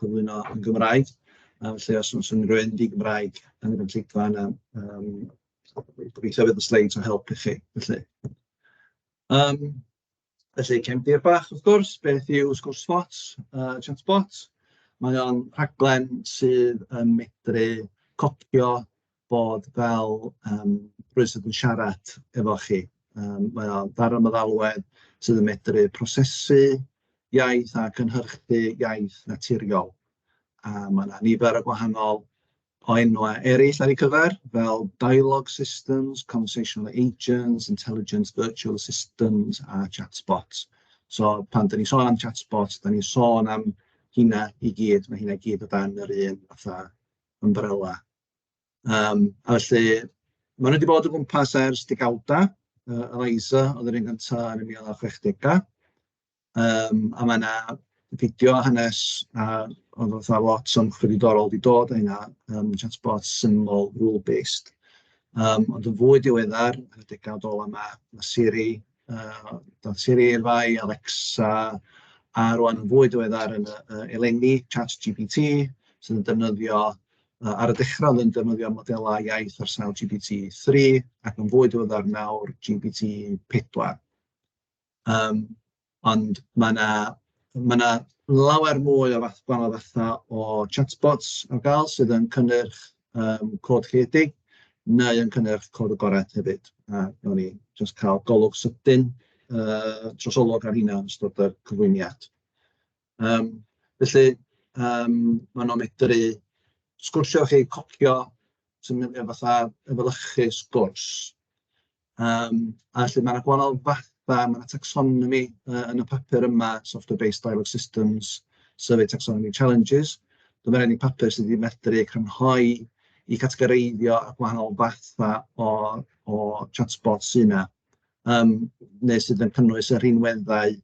cyflwyno yn Gymraeg, yym felly os oes unrhyw un di-Gymraeg yn y gynulleidfa yna yym gobeithio fydd y sleids o help i chi felly. Yym felly cefndir bach wrth gwrs, beth yw Sgwrsbots yy chatbot? Mae o'n rhaglen sydd yn medru copïo bod fel yym rywun sydd yn siarad efo chi. Yym mae o fel ryw feddalwedd sydd yn medru prosesu iaith a cynhyrchu iaith naturiol. A mae 'na nifer o gwahanol o enwau eraill ar ei gyfer, fel dialogue systems, conversational agents, intelligent virtual assistants a chatbots. So pan dan ni'n sôn am chatbots, dan ni'n sôn am heina i gyd, ma' heina i gyd o dan yr un fatha ymbrela. Yym a felly maen nhw 'di bod o gwmpas ers degawda. Yy yr ISA oedd yr un gynta yn y mil naw chwechdegau. Yym a mae 'na fideo a hanes a oedd fatha lot o ymchwil diddorol 'di dod o hynna yym chatbot syml rule based. Yym ond yn fwy diweddar, yn y degawd ola 'ma, ma' Siri yy doedd Siri i'r fai, Alexa a rŵan yn fwy diweddar yn yy eleni ChatGPT sydd yn defnyddio Yy ar y dechrau oedd yn defnyddio modelau iaith ar sail GPT three ac yn fwy diweddar nawr GPT pedwar. Yym ond mae 'na ma' 'na lawer mwy o fath gwahanol fatha o chatbots ar gael sydd yn cynnyrch yym cod creadig neu yn cynnyrch cod agored hefyd a wnawn ni jyst cael golwg sydyn yy trosolwg ar hynna yn ystod y cyflwyniad. Yym felly yym maen nhw'n medru sgwrsio efo chi, copïo swn i'n ddweud fatha efelychu sgwrs, yym a felly mae 'na gwahanol fathau, ma' 'na tacsonomi yy yn y papur yma, software based dialogue systems, survey taxonomy challenges, so ma' 'na ryw bapur sy 'di medru crynhoi i gategoreiddio y gwahanol fathau o o chatbot sy 'na. yym neu sydd yn cynnwys y rhinweddau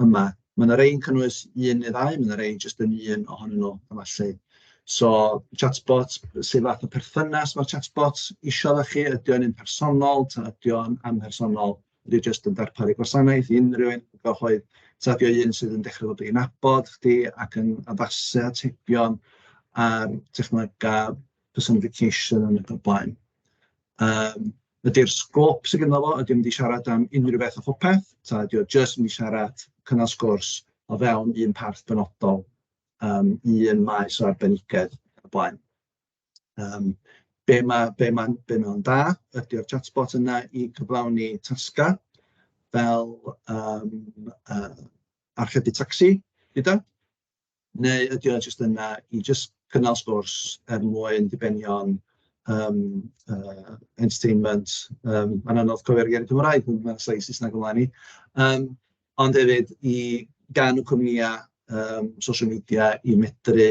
yma. Mae yna rei'n cynnwys un neu ddau, mae yna rei jyst yn un ohonyn nhw efallai. So chatbot, sut fath o perthynas mae'r chatbot isio efo chi? Ydy o'n un personol ta ydy o'n amhersonol? Ydy o jyst yn darparu gwasanaeth i unrhyw un cyhoedd? Ta ydy o un sydd yn dechrau bod yn nabod chdi ac yn addasu atebion ar technolegau personification yn y blaen? Yym. Ydy'r sgôp sydd gynno fo, ydy o'n mynd i siarad am unrhyw beth a phopeth, ta ydy o jyst mynd i siarad cynnal sgwrs o fewn un parth benodol, um, un maes o arbenigedd ac blaen. Um, be mae'n be ma, be ma da ydy o'r chatbot yna i gyflawni tasgau fel um, uh, archebu tacsi gyda. Neu ydy o jyst yna i jyst cynnal sgwrs er mwyn dibenion yym yy entertainment? Yym mae'n anodd cofio'r geiriau Cymraeg, dwi'n meddwl sa'i Saesneg o flaen i. Yym ond hefyd i ganu cwmnïau yym social media i medru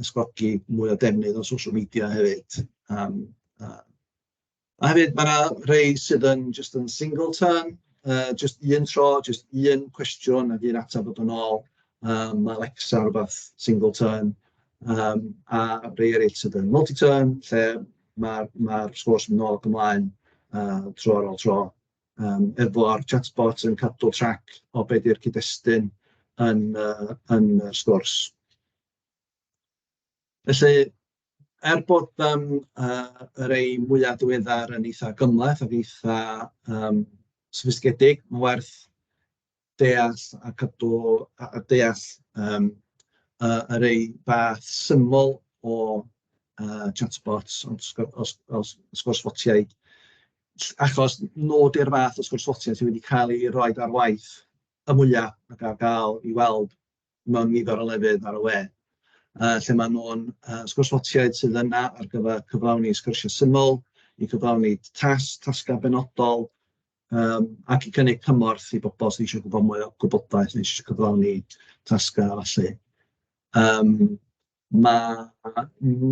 ysgogi mwy o defnydd o social media hefyd yym a... A hefyd ma' 'na rhai sydd yn jyst yn single turn, yy jyst un tro, jyst un cwestiwn ac un ateb a dod yn ôl, yym ma' Alexa rywbeth single turn, yym a rhai eraill sydd yn multi turn lle ma'r ma'r sgôrs yn mynd nôl ac ymlaen yy tro ar ôl tro, yym efo'r chatbot yn cadw trac o be 'di'r cyd-destun yn yy yn y sgwrs. Felly... er bod yym yy y rhai mwya diweddar yn eitha gymhleth ac eitha yym soffistigedig, mae'n werth deall a cadw a a deall yym y y rhai bach syml o yy chatbots ond os ga- os os os oes ffotiaid ll- achos nhw 'di'r fath o sgwrsffotiau sydd wedi cael eu rhoid ar waith y mwya ac ar gael i weld mewn nifer o lefydd ar y we, yy lle maen nhw'n yy sgwrs ffotiaid sydd yna ar gyfer cyflawni sgyrsiau syml, i gyflawni tas, tasgau benodol, um, ac i gynnig cymorth i bobl sydd eisiau gwybod mwy o gwybodaeth neu eisiau cyflawni tasgau felly. Um, Mae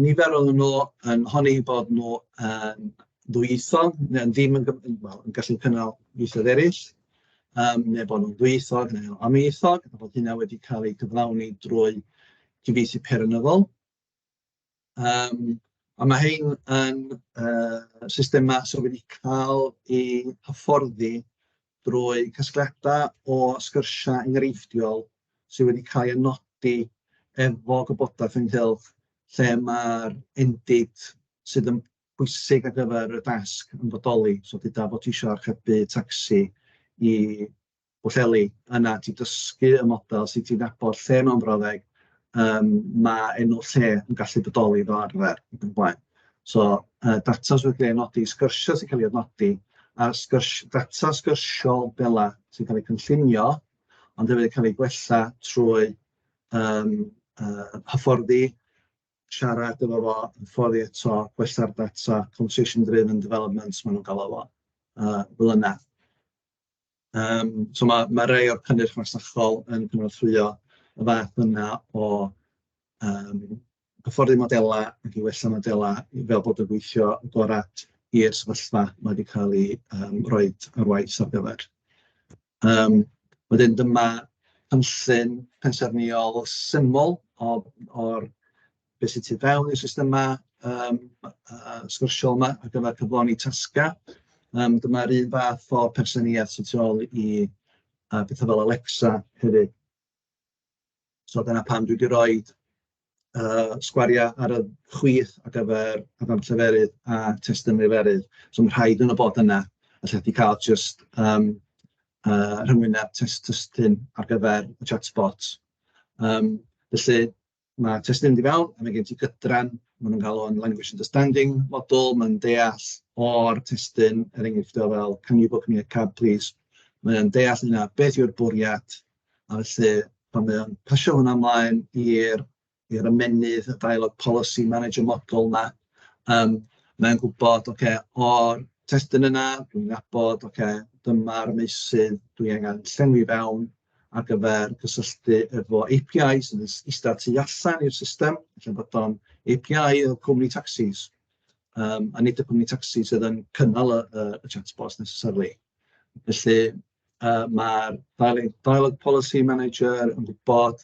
nifer ohonyn nhw yn honni eu bod nhw yn ddwyieithog, neu yn ddim yn gym- yn wel yn gallu cynnal ieithoedd eraill, yym neu bod nhw'n ddwyieithog neu yn amlieithog, a bod hynna wedi cael ei gyflawni drwy gyfeithu peirianyddol. Yym a ma' hein yn yy systemau sydd wedi cael eu hyfforddi drwy casgliadau o sgyrsiau enghreifftiol sydd wedi cael eu nodi efo gwybodaeth ynghylch lle mae'r endid sydd yn bwysig ar gyfer y dasg yn bodoli. So dyda bod ti eisiau archebu tacsi i Bwllheli, yna ti dysgu y model sydd ti'n nabod lle mewn brawddeg yym ma' enw lle yn gallu bodoli fel arfer ac yn y blaen. So yy data sy'n cael ei nodi, sgyrsiau sy'n cael ei nodi, a sgyrsi- data sgyrsiol fela sy'n cael ei cynllunio, ond hefyd yn cael ei gwella trwy yym yy hyfforddi, siarad efo fo, hyfforddi eto, gwella'r data, conversation driven development maen nhw'n galw fo yy fel yna. Yym so ma' ma' rhai o'r cynnyrch masnachol yn cynorthwyo y fath yna o yym hyfforddi modelau ac i wella modelau i fel bod yn gweithio yn gorau i'r sefyllfa ma' 'di cael ei yym roid ar waith ar gyfer. Yym wedyn dyma cynllun pensaernïol syml o o'r be sy tu fewn i'r systemau yym yy sgyrsiol 'ma ar gyfer cyflawni tasgau, yym dyma'r un fath o pensaernïaeth sy tu ôl i yy petha fel Alexa hefyd, so dyna pam dwi 'di roid yy sgwariau ar y chwith ar gyfer adnabod lleferydd a testun lleferydd, so ma' rhai ohonyn nhw fod yna a lle ti cael jyst yym yy rhyngwyneb test testun ar gyfer y chatbot yym felly. Mae testun mynd i fewn, a mae gen ti gydran, maen nhw'n galw o'n language understanding model, mae'n deall o'r testun, er enghraifft o fel can you book me a cab please? Mae o'n deall hynna, beth yw'r bwriad, a felly pan mae o'n pasio hwnna ymlaen i'r i'r ymennydd, y dialog policy manager model 'ma, yym, mae'n gwybod, ocê, o'r testun yna, dwi'n nabod, ocê, dyma'r meysydd dwi angen llenwi fewn, ar gyfer cysylltu efo API sy'n eistedd tu allan i'r system, felly bod o'n API y cwmni tacsis, um, a nid y cwmni tacsi sydd yn cynnal y, y, y chatbots necessarily. Felly uh, mae'r Dialog Policy Manager yn gwybod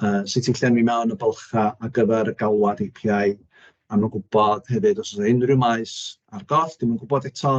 uh, sut i llenwi mewn y bylcha ar gyfer y galwad API, a mae'n gwybod hefyd os oes unrhyw maes ar goll, dim yn gwybod eto,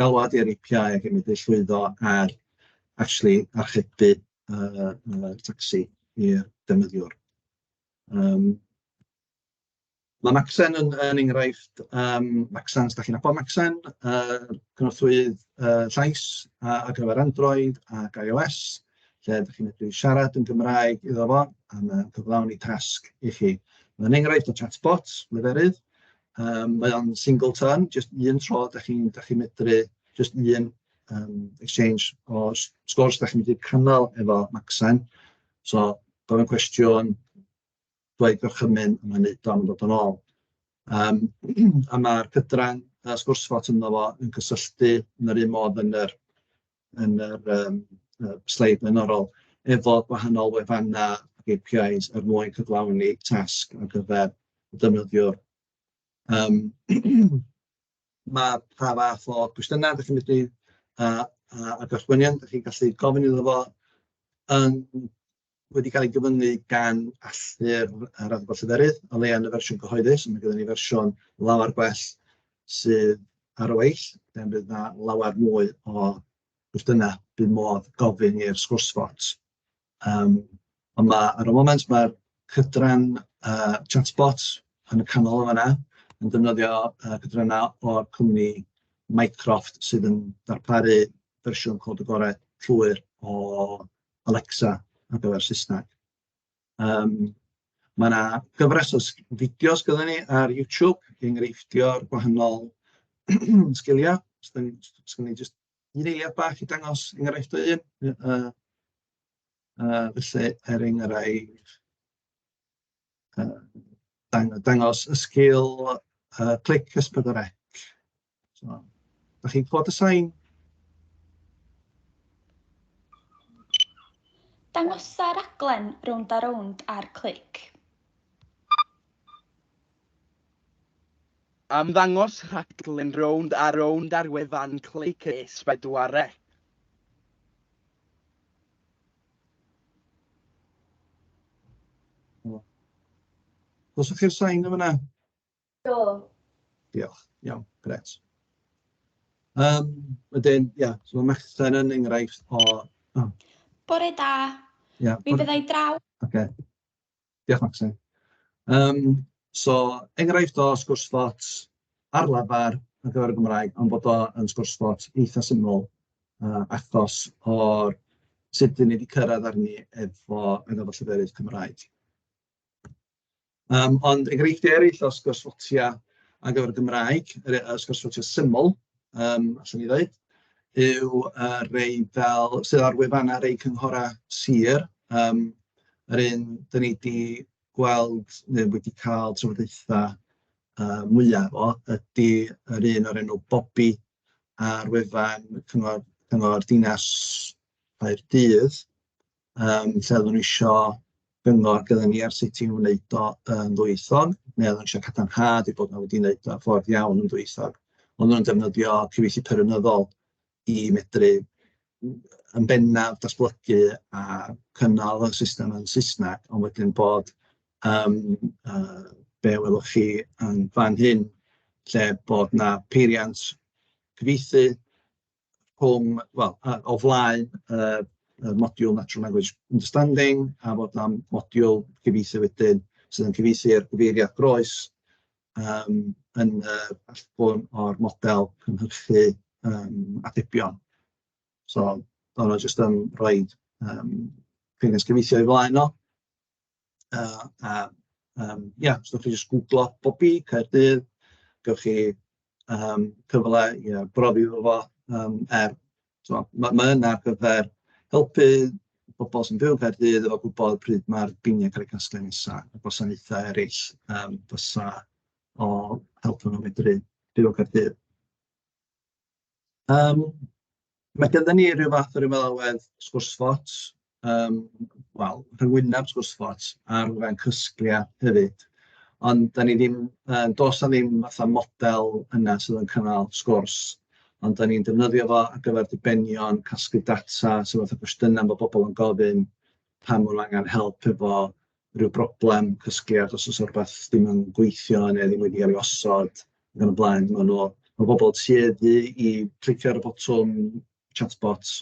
galwad i'r API ac i medru llwyddo ar actually archebu yy tacsi i'r defnyddiwr. Yym mae Macsen yn yn enghraifft yym Macsen os dach chi'n nabod Macsen yy cynorthwyydd yy llais a- ar gyfer Android ac iOS lle dach chi'n medru siarad yn Gymraeg iddo fo a mae o'n cyflawni tasg i chi. Mae'n enghraifft o chatbot leferydd Yym mae o'n single turn, jyst un tro dach chi'n dach chi'n medru jyst un yym exchange o s- sgwrs dach chi'n medru cynnal efo Macsen, so gofyn cwestiwn, rhoi gorchymyn a mae'n wneud o a ma'n dod yn ôl. Yym a ma'r cydran yy sgwrs bot ynddo fo yn cysylltu yn yr un modd yn yr yn yr yym yy sleid flaenorol efo gwahanol wefannau ac APIs er mwyn cyflawni tasg ar gyfer y defnyddiwr. Yym mae pa fath o gwestiynau dach chi'n mynd i a a a gorchmynion dach chi'n gallu gofyn iddo fo yn wedi cael ei gyfyngu gan allu'r yr adborth lleferydd, o leia yn y fersiwn cyhoeddus, ond mae gennym ni fersiwn lawer gwell sydd ar y weill, lle bydd yna lawer mwy o gwestiynau bydd modd gofyn i'r sgwrsfot. Um, ond mae, ar y moment mae'r cydran uh, chatbot yn y canol o fanna, yn defnyddio uh, cydrannau o'r cwmni Mycroft sydd yn darparu fersiwn cod y gorau llwyr o Alexa ar gyfer Saesneg. Yym, mae 'na gyfres o sg- fideos gynno ni ar YouTube i enghreiffftio'r gwahanol sgiliau. Os dan ni os os gynno ni jyst un eiliad bach i dangos enghraifft o un, yy yy yy felly er enghraifft yy dang- dangos y sgil yy clic S4C. So, da chi'n clod y sain? Dangosa raglen rownd a rownd ar clic. Ymddangos rhaglen rownd a rownd ar wefan Clic es bedwaredd. Os ydych chi'r sain yma yna? Do. Diolch. Iawn, grêt. Yym, wedyn, ia, so mae Merthyr yn enghraifft o... Oh. Bore da. Ia. Yeah, Mi fyddai draw. Oce. Okay. Diolch, Maxine. Um, so, enghraifft o sgwrs fot ar lafar ar gyfer y Gymraeg, ond bod o'n sgwrs fot eitha syml uh, achos o'r sut dyn ni wedi cyrraedd arni efo yn efo lleferydd Cymraeg. Yym, ond enghreifftiau eraill o sgwrshotiau ar gyfer y Gymraeg, yr yy sgwrshotiau syml, yym, allwn ni ddeud, yw y rhai fel sydd ar wefannau rhai cynghorau sir, yym yr un dan ni 'di gweld neu wedi cael trafodaethau yy mwya o ydy yr un o'r enw Bobi ar wefan cyngor cyngor dinas Caerdydd. yym lle oedden nhw isho gyngor gyda ni ar sut i wneud o yn ddwyieithog, neu oedden nhw isho cadarnhad eu bod nhw wedi wneud o'n ffordd iawn yn ddwyieithog. Oedden nhw'n defnyddio cyfieithu perygnyddol i medru yn bennaf datblygu a cynnal y system yn Saesneg, ond wedyn bod yym yy be welwch chi yn fan hyn, lle bod 'na peiriant cyfieithu rhwng, wel, yy o flaen yy y modiwl Natural Language Understanding a fod am modiwl cyfieithu wedyn sydd yn cyfieithu'r gyfeiriad groes yym yn yy allbwn o'r model cynhyrchu yym atebion. So, ma' hwnna jyst yn rhoid yym cyfeiriad cyfieithu o'i flaen o. Yy a yym ia, os dach chi jyst gwglo Bobi Caerdydd, gewch chi yym cyfle i arbrofi efo fo yym er tibod ma' ma' hyn ar gyfer helpu pobl sy'n byw yn Caerdydd efo gwybod pryd ma'r biniau cael eu casglu nesa, a gwasanaethau eraill yym fysa o helpu nhw medru byw yn Caerdydd. Yym, ma' gynnon ni ryw fath o ryw alwad sgwrsbots, yym, wel, rhyngwyneb sgwrsbots ar wefan Cysglia hefyd, ond 'dan ni ddim yn... does 'na ddim fatha model yna sydd yn cynnal sgwrs, ond 'dan ni'n defnyddio fo ar gyfer dibenion, casglu data, so fatha cwestiynau ma' pobl yn gofyn, pan ma' nhw angen help efo ryw broblem cysgliad, os oes 'na rywbeth ddim yn gweithio neu ddim wedi cael ei osod ac yn y blaen. Maen nhw... ma' pobl tueddu i glicio ar y botwm chatbot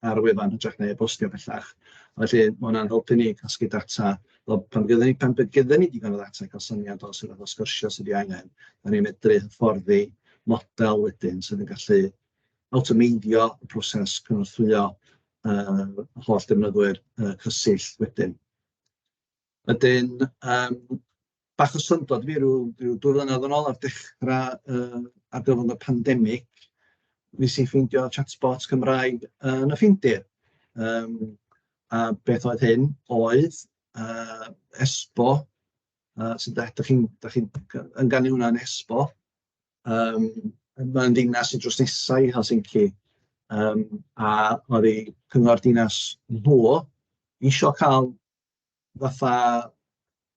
ar y wefan yn hytrach na e-bostio bellach, a felly ma' hwnna'n helpu ni casglu data, wel pan fyddan ni pan fydd gynnon ni digon o ddata i gael syniad o sut fath o sgyrsiau sydd 'di angen, dan ni'n medru hyfforddi model wedyn sydd yn gallu awtomeiddio y proses cynorthwyo yy holl defnyddwyr yy Cysill wedyn. Wedyn, yym, bach o syndod fi, ryw ryw dwy flynedd yn ôl ar dechrau yy ar gyfrwng y pandemig, nes i ffeindio chatbot Cymraeg yn y Ffindir. Yym, a beth oedd hyn oedd yy Esbo, yy so da- dach chi'n dach chi'n ynganiwna yn Esbo, Yym, mae'n ddinas sy drws nesa i Helsinki, yym, a oedd eu cyngor dinas nhw isio cael fatha,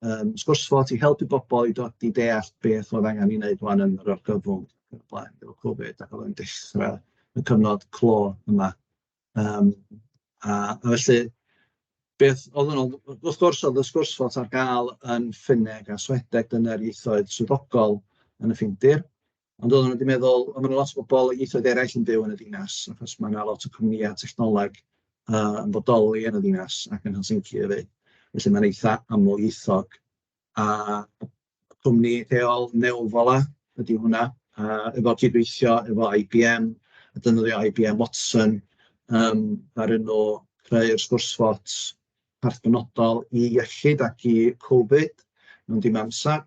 yym, sgwrs fot i helpu bobl i dod i deall beth oedd angen ei wneud ŵan yn yr argyfwng ac yn y blaen efo Covid ac oedd o'n dechrau y cyfnod clo yma. Yym, a a felly beth oedd yn od, wrth gwrs oedd y sgwrs fod ar gael yn Ffinneg a Swedeg, dyna'r ieithoedd swyddogol yn y Ffindir, ond oedden nhw wedi meddwl, o ma' 'na lot o bobl o ieithoedd eraill yn byw yn y ddinas, achos ma' 'na lot o cwmnïau technoleg yy yn bodoli yn y ddinas ac yn Helsinki efyd, felly mae'n eitha amlieithog a cwmni lleol Neuvola ydy hwnna, a efo cydweithio efo IBM, a defnyddio IBM Watson yym ddaru nhw creu'r sgwrsbot parth penodol i iechyd ac i Covid mewn dim amser,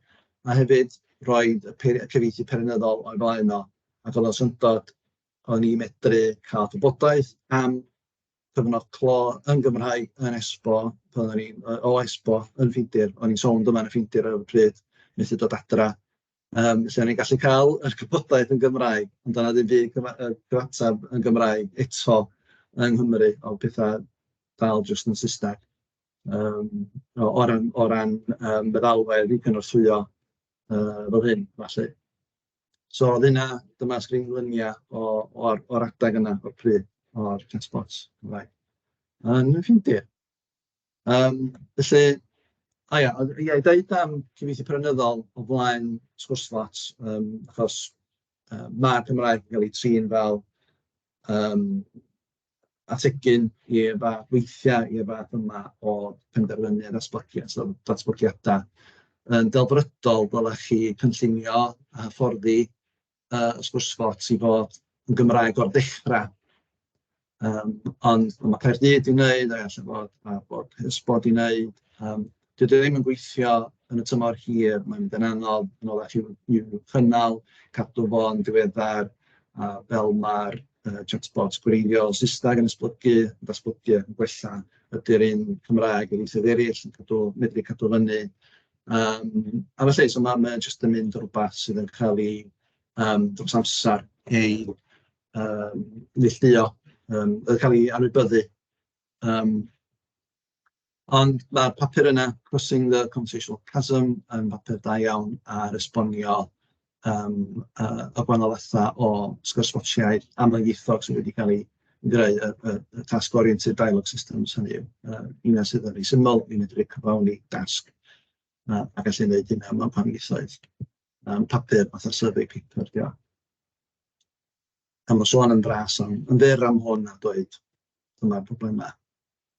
a hefyd roedd y peir- y cyfieithu peirianyddol o'i flaen o, ac oedd o'n syndod, o'n i'n medru cael gwybodaeth am cyfnod clo yn Gymraeg yn Esbo, pan o'n i'n yy o Esbo yn Ffindir, o'n i'n sownd yma yn y Ffindir ar y pryd, methu dod adra, yym lle o'n i'n gallu cael yr gwybodaeth yn Gymraeg, ond doedd 'na ddim byd cyfa- yy cyfateb yn Gymraeg eto yng Nghymru, o'dd petha dal jyst yn Saesneg yym o o ran o ran yym meddalwedd i gynorthwyo yy fel hyn felly. So oedd hynna, dyma sgrin luniau o o'r o'r adeg yna, o'r pryd, o'r chatbots Cymraeg yn y Ffindir. Yym, felly, o ia, ond ia, i ddeud am cyfieithu peranyddol o flaen sgwrs lot, yym, achos yy ma'r Gymraeg yn cael ei trin fel yym ategyn i'r fath... weithiau i'r fath yma o penderfynu a datblygu. So datblygiadau yn ddelfrydol ddylech chi cynllunio a hyfforddi yy y sgwrs bocs i fod yn Gymraeg o'r dechra yym ond ma' Caerdydd 'di wneud a ella bod bod Plismon 'di wneud yym... Dydy o ddim yn gweithio yn y tymor hir, mae'n mynd yn anodd yn orau chi i'w chynnal, cadw fo'n diweddar, a fel mae'r uh, chatbot gwreiddiol Saesneg yn esblygu, yn datblygu ac yn gwella, ydy'r un Cymraeg yn eithaf eraill yn cadw, medru cadw fyny. Um, a felly, so mae'n ma jyst yn mynd rhywbeth sydd yn cael ei um, dros amser ei um, neillduo, um, yn cael ei anwybyddu. Um, Ond mae'r papur yna, Crossing the Computational Chasm, yn bapur da iawn ar esbonio yym y y gwahanol fathau o sgwrsbotiaid amlieithog sydd wedi cael eu greu, y y y task-oriented dialogue systems hynny yw, y rheina sydd yn rhai syml, i medru cyflawni dasg a a gallu neud hynna mewn pan ieithoedd. Yym papur fatha survey paper 'di o. A ma' sôn yn fras am yn fyr am hwn a dweud dyma'r problemau.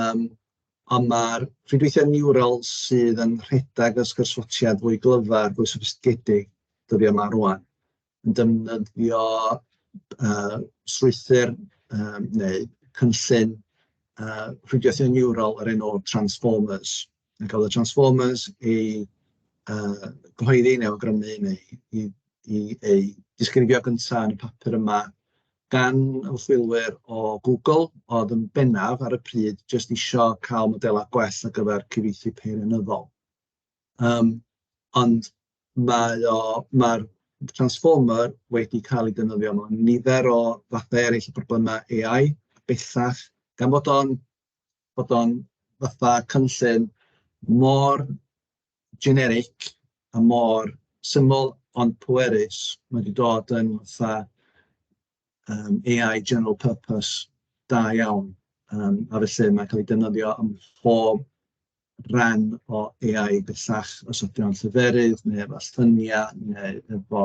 yym ond ma'r rhwydweithiau niwral sydd yn rhedeg y sgyrsiau fwy glyfar, fwy soffistigedig dyddiau 'ma rŵan, yn defnyddio yy strwythur yym neu cynllun yy rhwydweithiau niwral o'r enw Transformers. Ni'n cael y Transformers i yy gyhoeddi neu awgrymu neu i i eu disgrifio gynta yn y papur yma gan ymchwilwyr o Google oedd yn bennaf ar y pryd jyst isio cael modelau gwell ar gyfer cyfeithu peirianyddol. Yym, ond mae o... ma'r Transformer wedi cael ei defnyddio mewn nifer o fathau eraill o broblemau AI bellach, gan bod o'n bod o'n fatha cynllun mor generic a mor syml ond pwerus. Mae wedi dod yn fatha um, AI general purpose da iawn. Um, a felly mae'n cael ei defnyddio ym mhob rhan o AI bellach, os ydy o'n lleferydd neu efo lluniau neu efo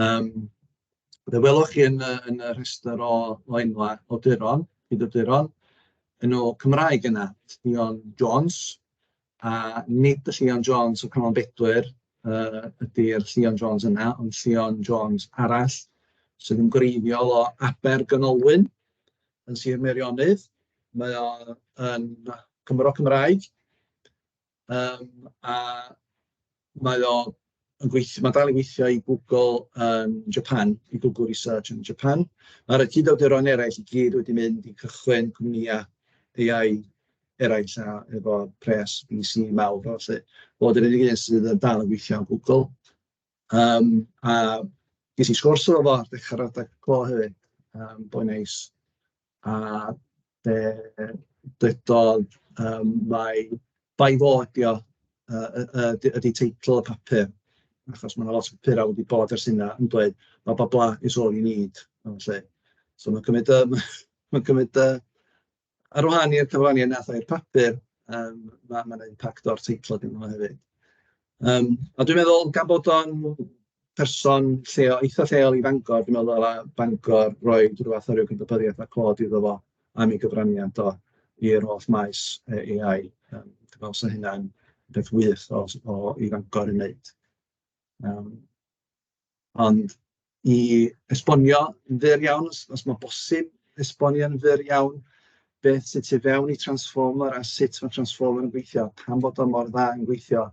Yym, fe welwch chi yn y yn y rhestr o o enwau awduron, cydawduron, enw Cymraeg yna, Llion Jones, a nid y Llion Jones o Canol Bedwyr yy ydy'r Llion Jones yna, ond Llion Jones arall sydd yn gwreiddiol o Abergynolwyn yn Sir Meirionnydd. Mae o yn Gymro Cymraeg. Yym, a mae o yn gweith- mae'n dal i weithio i Google yn Japan, i Google Research yn Japan. Ma'r yy cyd-awduron eraill i gyd wedi mynd i cychwyn cwmnïau AI eraill a efo pres VC mawr a ballu, fo ydi'r unig un sydd yn dal yn gweithio yn Google. Yym, a ges i sgwrs efo fo ar ddechrau'r adeg clo hefyd, yym, boi neis, a be ddedodd yym mai bai fo ydy o, yy yy yy ydy ydy teitl y papur, achos ma' 'na lot o papurau wedi bod ers hynna yn dweud "blah blah blah is all you need" a ballu. So ma'n cymryd yym ma'n cymryd yy Ar wahân i'r cyfraniad wnaeth o i'r papur, yym, ma' ma' 'na impact o'r teitl ganddo fo hefyd. Yym, a dwi'n meddwl gan bod o'n person lleo- eitha lleol i Fangor, dwi'n meddwl ddyla Bangor roi ryw fath o ryw gydnabyddiaeth a clod iddo fo am ei gyfraniad o i'r holl maes yy AI. Yym, dwi'n meddwl 'sa hynna'n beth wych o s- o i Fangor ei wneud. Yym. Ond i esbonio yn fyr iawn, os os mae'n bosib esbonio yn fyr iawn beth sydd tu fewn i Transformer a sut mae Transformer yn gweithio, pam bod o mor dda yn gweithio.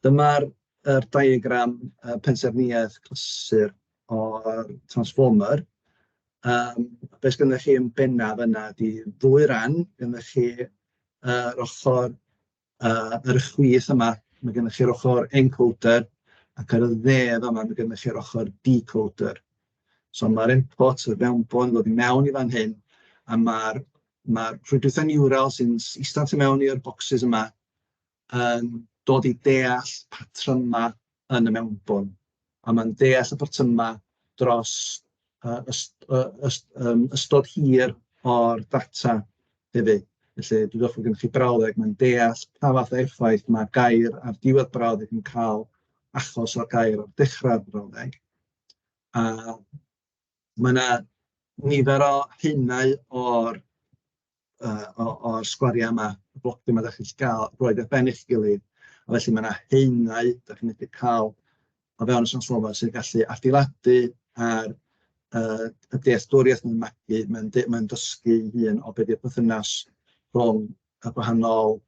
Dyma'r yr diagram yy pensaernïaeth clasur o'r Transformer. Yym be sgynnoch chi yn bennaf yna ydy ddwy ran, gynnoch chi yr ochr a ar y chwith yma, ma' gennych chi'r ochr encoder, ac ar y dde fama, ma' gennych chi'r ochr decoder. So ma'r input, y mewnbwn, yn dod i mewn i fan hyn, a ma'r ma'r rhwydwaethau niwral sy'n s- ista tu mewn i'r bocsys yma yn dod i deall patrymau yn y mewnbwn, a mae'n deall y patrymau dros yy yst- yy yst- yym ystod hir o'r data hefyd. Felly, dwi'n falch bod gennych chi brawddeg, mae'n deall pa fath o effaith mae gair ar diwedd brawddeg yn cael achos o'r gair ar dechrau'r brawddeg. A mae yna nifer o haenau o'r uh, o, o'r sgwariau yma, y blocdy yma, da chi'n cael roed ar ben eich gilydd. A felly mae yna heunau, da chi'n medru cael o fewn y Sanslofau sy'n gallu adeiladu ar uh, y dealltwriaeth mae'n magu, mae'n mae dysgu hun o beth yw'r perthynas rhwng y gwahanol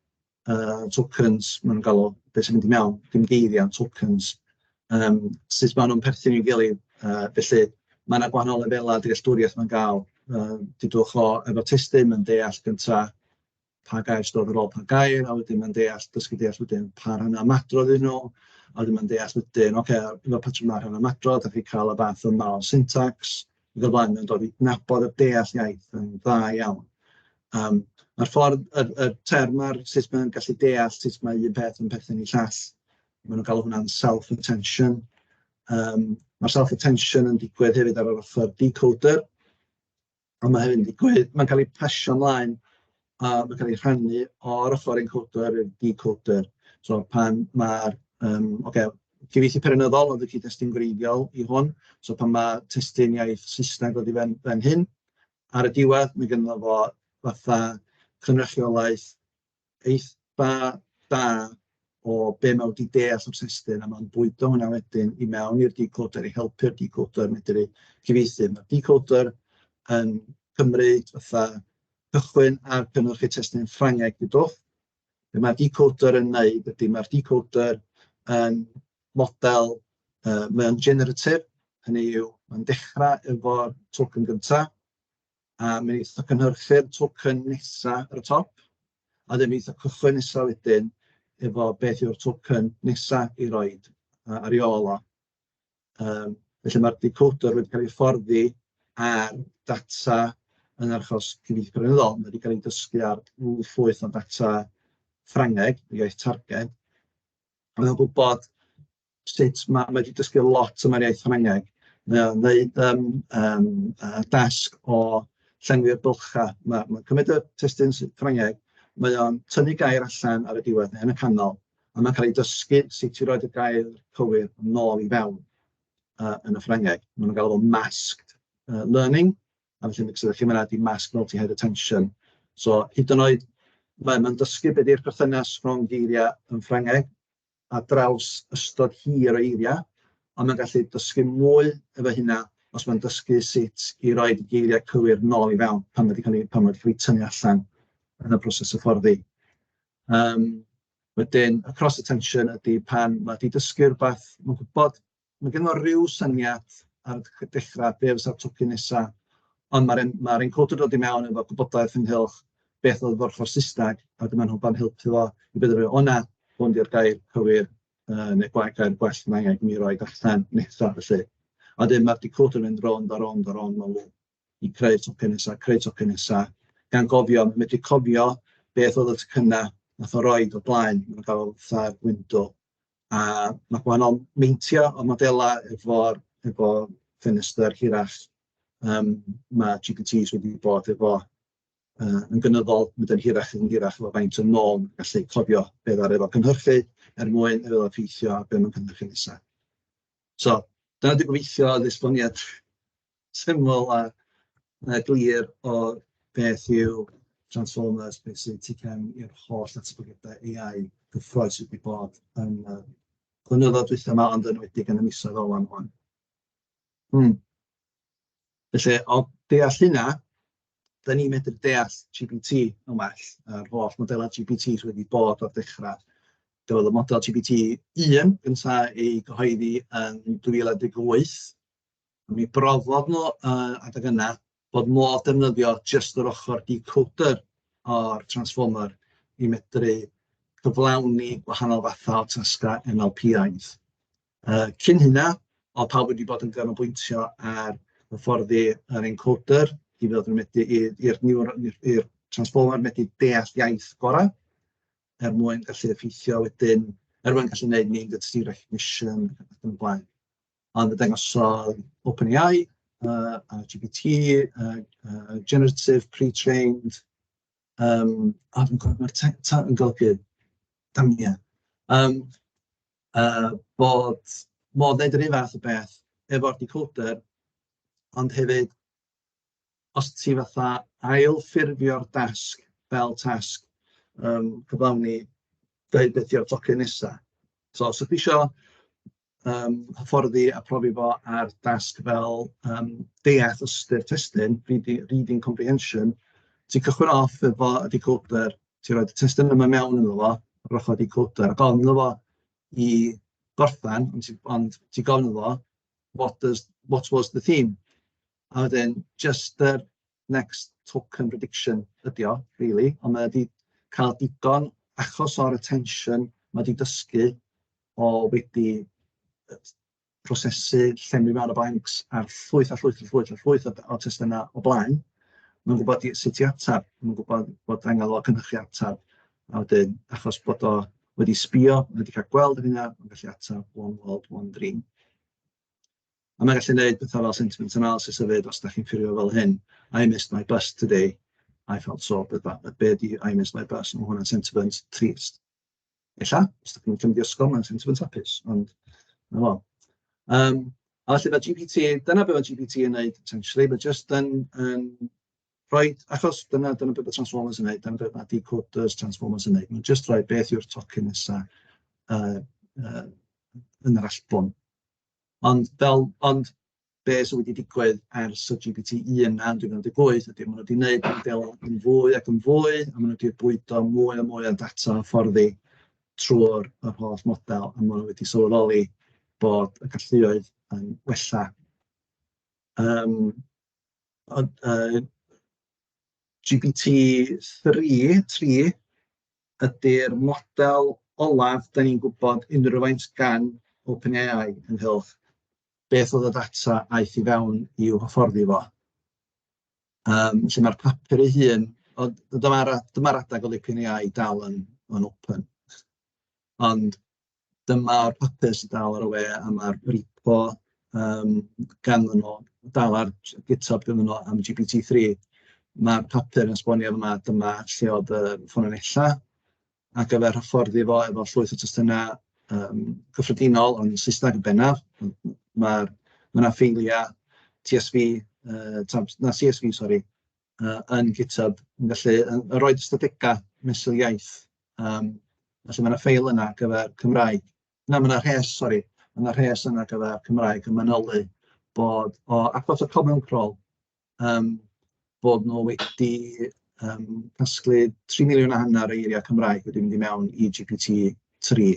uh, tokens, mae'n gael o beth sy'n mynd i mewn, dim geiriau, tokens, um, sut maen nhw'n perthyn i'w gilydd. Uh, felly, mae yna gwahanol lefelau dealltwriaeth mae'n gael. Uh, dydwch o efo testyn, mae'n deall gyntaf pa gair stodd ar ôl pa gair, a wedyn mae'n deall, dysgu deall wedyn pa rhan ymadrodd yn nhw, a wedyn mae'n deall wedyn, oce, okay, efo patrwm na rhan ymadrodd, da chi cael y fath yma o syntax, iddo fan yn dod i nabod a deall iaith yn dda iawn. Um, Mae'r ffordd, y, y term ar sut mae'n gallu deall sut mae un peth yn perthyn i llall, maen nhw'n cael hwnna'n self-attention. Um, mae self-attention yn digwydd hefyd ar yr ochr decoder, ond mae hefyd yn digwydd, mae'n cael ei pasio ymlaen a ma'n cael ei rhannu o'r ochr encoder i'r decoder. So pan mae'r yym ocê cyfieithu periynyddol oedd y cyd-destun gwreiddiol i hwn, so pan ma' testun iaith Saesneg wedi fan fan hyn, ar y diwedd ma' gynno fo fatha cynrychiolaeth eitha da o be' ma' wedi deall o'r testun, a ma'n bwydo hwnna wedyn i mewn i'r decoder i helpu'r decoder medru cyfieithu. Ma'r decoder yn cymryd fatha cychwyn ar cynhyrchu testun Ffrangeg y dull. Be mae'r decoder yn wneud ydy mae'r decoder yn model, uh, mae'n generative, hynny yw, mae'n dechrau efo'r token gyntaf, a mae'n eitha cynhyrchu'r token nesaf ar y top, a ddim eitha cychwyn nesaf wedyn efo beth yw'r token nesaf i roed ar ei ôl o. Yym felly mae'r decoder wedi cael ei hyfforddi ar data yn yr achos cyfieithu cyfreithiol, mae wedi cael ei dysgu ar ryw llwyth o ddata Ffrangeg, y iaith targed, a mae'n gwybod sut mae, mae wedi dysgu lot am yr iaith Ffrangeg, mae o'n wneud um, um, uh, dasg o llenwi'r bylchau, mae'n ma cymryd y testun Ffrangeg, mae o'n tynnu gair allan ar y diwedd neu yn y canol, a mae'n cael ei dysgu sut i roed y gair cywir nôl i fewn uh, yn y Ffrangeg. Mae nhw'n galw masked uh, learning, a felly yn ydych chi'n mynd i mask multi-head attention. So, hyd yn oed, mae'n ma dysgu beth yw'r perthynas rhwng geiriau yn Ffrangeg a draws ystod hir o eiriau, ond mae'n gallu dysgu mwy efo hynna os mae'n dysgu sut i roi geiriau cywir nôl i fewn pan wedi cael ei, pan wedi cael ei tynnu allan yn y proses y fforddi. Yym wedyn y cross attention ydy pan ma' 'di dysgu rywbeth, ma'n gwbod, ma' gynno fo ryw syniad ar y dechra be fysa'r tocyn nesa, ond ma'r en- ma'r encoder yn dod i mewn efo gwybodaeth ynghylch beth oedd yr ochr Saesneg, a wedyn ma'n nhw'n pan helpu fo i benderfynu, o na, hwn di'r gair cywir yy neu gwa- gair gwell ma' angen i mi roid allan nesa felly. A wedyn ma'r decoder yn mynd rownd a rownd a rownd mewn lŵp. i creu tocyn nesa, creu tocyn nesa, gan gofio, mae'n medru cofio beth oedd y tocyna nath o roed o blaen, mae'n gael fatha gwyndw. A mae gwahanol meintio o modelau efo, efo ffenestr hirach, um, mae GPTs wedi bod efo uh, yn gynyddol, mynd yn hirach yn hirach efo faint o nôl, gallu cofio beth ddaru efo cynhyrchu er mwyn efo effeithio a beth mae'n cynhyrchu nesaf. So, dyna wedi gobeithio oedd esboniad syml a a glir o beth yw Transformers, beth sy'n TCAM i'r holl ddatblygiadau AI gyffrous sydd wedi bod yn y blynyddoedd dwytha 'ma, ond yn enwedig yn y misoedd ola 'ma 'wan. Hmm. Felly, o deall hynna, dan ni'n medru deall GPT yn well, yr holl modelau GPT sydd wedi bod o'r dechrau. Roedd y model GPT un gynta ei gyhoeddi yn 2018. Mi brofodd nhw uh, adeg yna bod modd defnyddio jyst yr ochr decoder o'r transformer i medru cyflawni gwahanol fathau o tasgau MLPIs. Uh, cyn hynna, o pawb wedi bod yn ganolbwyntio ar hyfforddi yr encoder i fod yn medru i'r transformer medru deall iaith gorau er mwyn gallu effeithio wedyn, er mwyn gallu gwneud mynd at recognition ac yn blaen. Ond fe ddangosodd OpenAI yy a GPT yy yy generative pre-trained yym a dwi'n cofio mae'r te- ta- yn golygu damn ie yym yy bod modd wneud yr un fath o beth efo'r decoder ond hefyd os ti fatha ail ffurfio'r dasg fel tasg yym cyflawni dweud beth yw'r tocyn nesa. So os ydych chi isio yym hyfforddi a phrofi fo ar dasg fel yym deall ystyr testun, readi- reading comprehension. Ti'n cychwyn off efo y decoder, ti'n rhoi y testun yma mewn iddo fo, yr ochr decoder, a gofyn iddo fo i gorffen, ond ti ond ti'n gofyn iddo fo, what does... what was the theme? A wedyn jyst yr... next token prediction ydy o rili, ond mae o 'di cael digon achos o'r attention mae 'di dysgu o wedi prosesu llenwi mewn y blanks ar llwyth a llwyth a llwyth a llwyth o, o testunau o blaen. Mae'n gwybod sut i ateb, mae'n gwybod bod angen o cynhyrchu ateb. A wedyn, achos bod o wedi sbio, mae wedi cael gweld yr hynna, mae'n gallu ateb one world, one dream. A mae'n gallu neud petha fel sentiment analysis a ddeud os dach chi'n ffeirio fel hyn, I missed my bus today, I felt so, bydda, a be di I missed my bus, mae hwnna'n sentiment trist. Ella, os dach chi'n cymryd i ysgol, mae'n sentiment hapus, ond na fo. Um, a felly mae GPT, dyna beth mae GPT yn neud, essentially, mae just yn, yn rhoi, achos dyna, dyna beth mae Transformers yn neud, dyna beth mae decoders Transformers yn neud, mae'n just rhoi beth yw'r tocyn nesaf uh, uh, yn yr allbwn. Ond fel... ond be sy wedi digwydd ers y GPT un yna yn 2018 ydy maen nhw 'di wneud y modela yn fwy ac yn fwy, a maen nhw 'di bwydo mwy a mwy o ddata hyfforddi trwy'r yr holl model, a maen nhw wedi sylweddoli bod y galluoedd yn wella. Yym ond yy GPT three tri ydy'r model olaf da ni'n gwybod unrhyw faint gan OpenAI ynghylch beth oedd y data aeth i fewn i'w hyfforddi fo. Um, lle mae'r papur ei hun, ond dyma'r dyma adeg oedd OpenAI dal yn, yn open. Ond dyma'r papur sy'n dal ar y we a ma'r repo yym ganddo nhw, dal ar GitHub ganddo nhw am GPT three. Ma'r papur yn esbonio fan'na dyma lle oedd y ffynonellau ar gyfer hyfforddi fo efo llwyth o testunau yym cyffredinol yn Saesneg yn bennaf. M- m- ma'r ma' 'na ffeiliau TSV yy tibod na CSV sori. yy yn GitHub, yn gallu yn yn rhoid ystadegau mesul iaith, yym, felly ma' 'na ffeil yna ar gyfer Cymraeg. Na, ma' 'na rhes, sori, ma' 'na rhes yna ar gyfer Cymraeg yn manylu bod o achos y Common Crawl, yym, bod nhw wedi yym casglu tri miliwn a hanner o eiriau Cymraeg wedi mynd i mewn i GPT tri,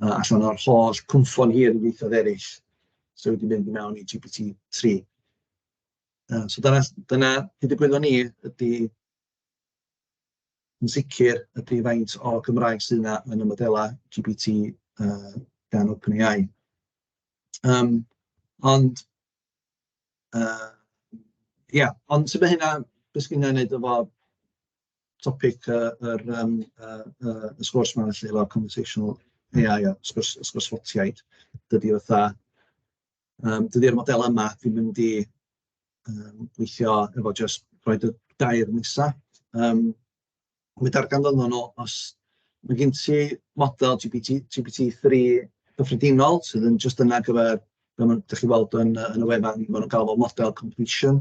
yy allan o'r holl cynffon hir yn ieithoedd eraill sy wedi mynd i mewn i GPT tri. Na, so dyna s- dyna be ddigwyddodd i ni ydy, yn sicr, ydy faint o Gymraeg sydd 'na yn y modelau GPT yy gan OpenAI. Yym, ond yy ia, ond tybed hynna, be sy gynna i wneud efo topic yy yr yym y y y sgwrs 'ma felly efo conversational AI a sgwrs sgwrs ffotiaid, dydi o fatha... Yym, dydy'r modelau yma ddim yn mynd i yym gweithio efo jyst rhoid y dair nesa. Yym, mi ddarganfyddwn nhw os ma' gen ti model GPT GPT3 cyffredinol sydd yn jyst yna ar gyfer, fel ma' dach chi'n weld yn y yn y wefan, ma' nhw'n galw fo'n model completion.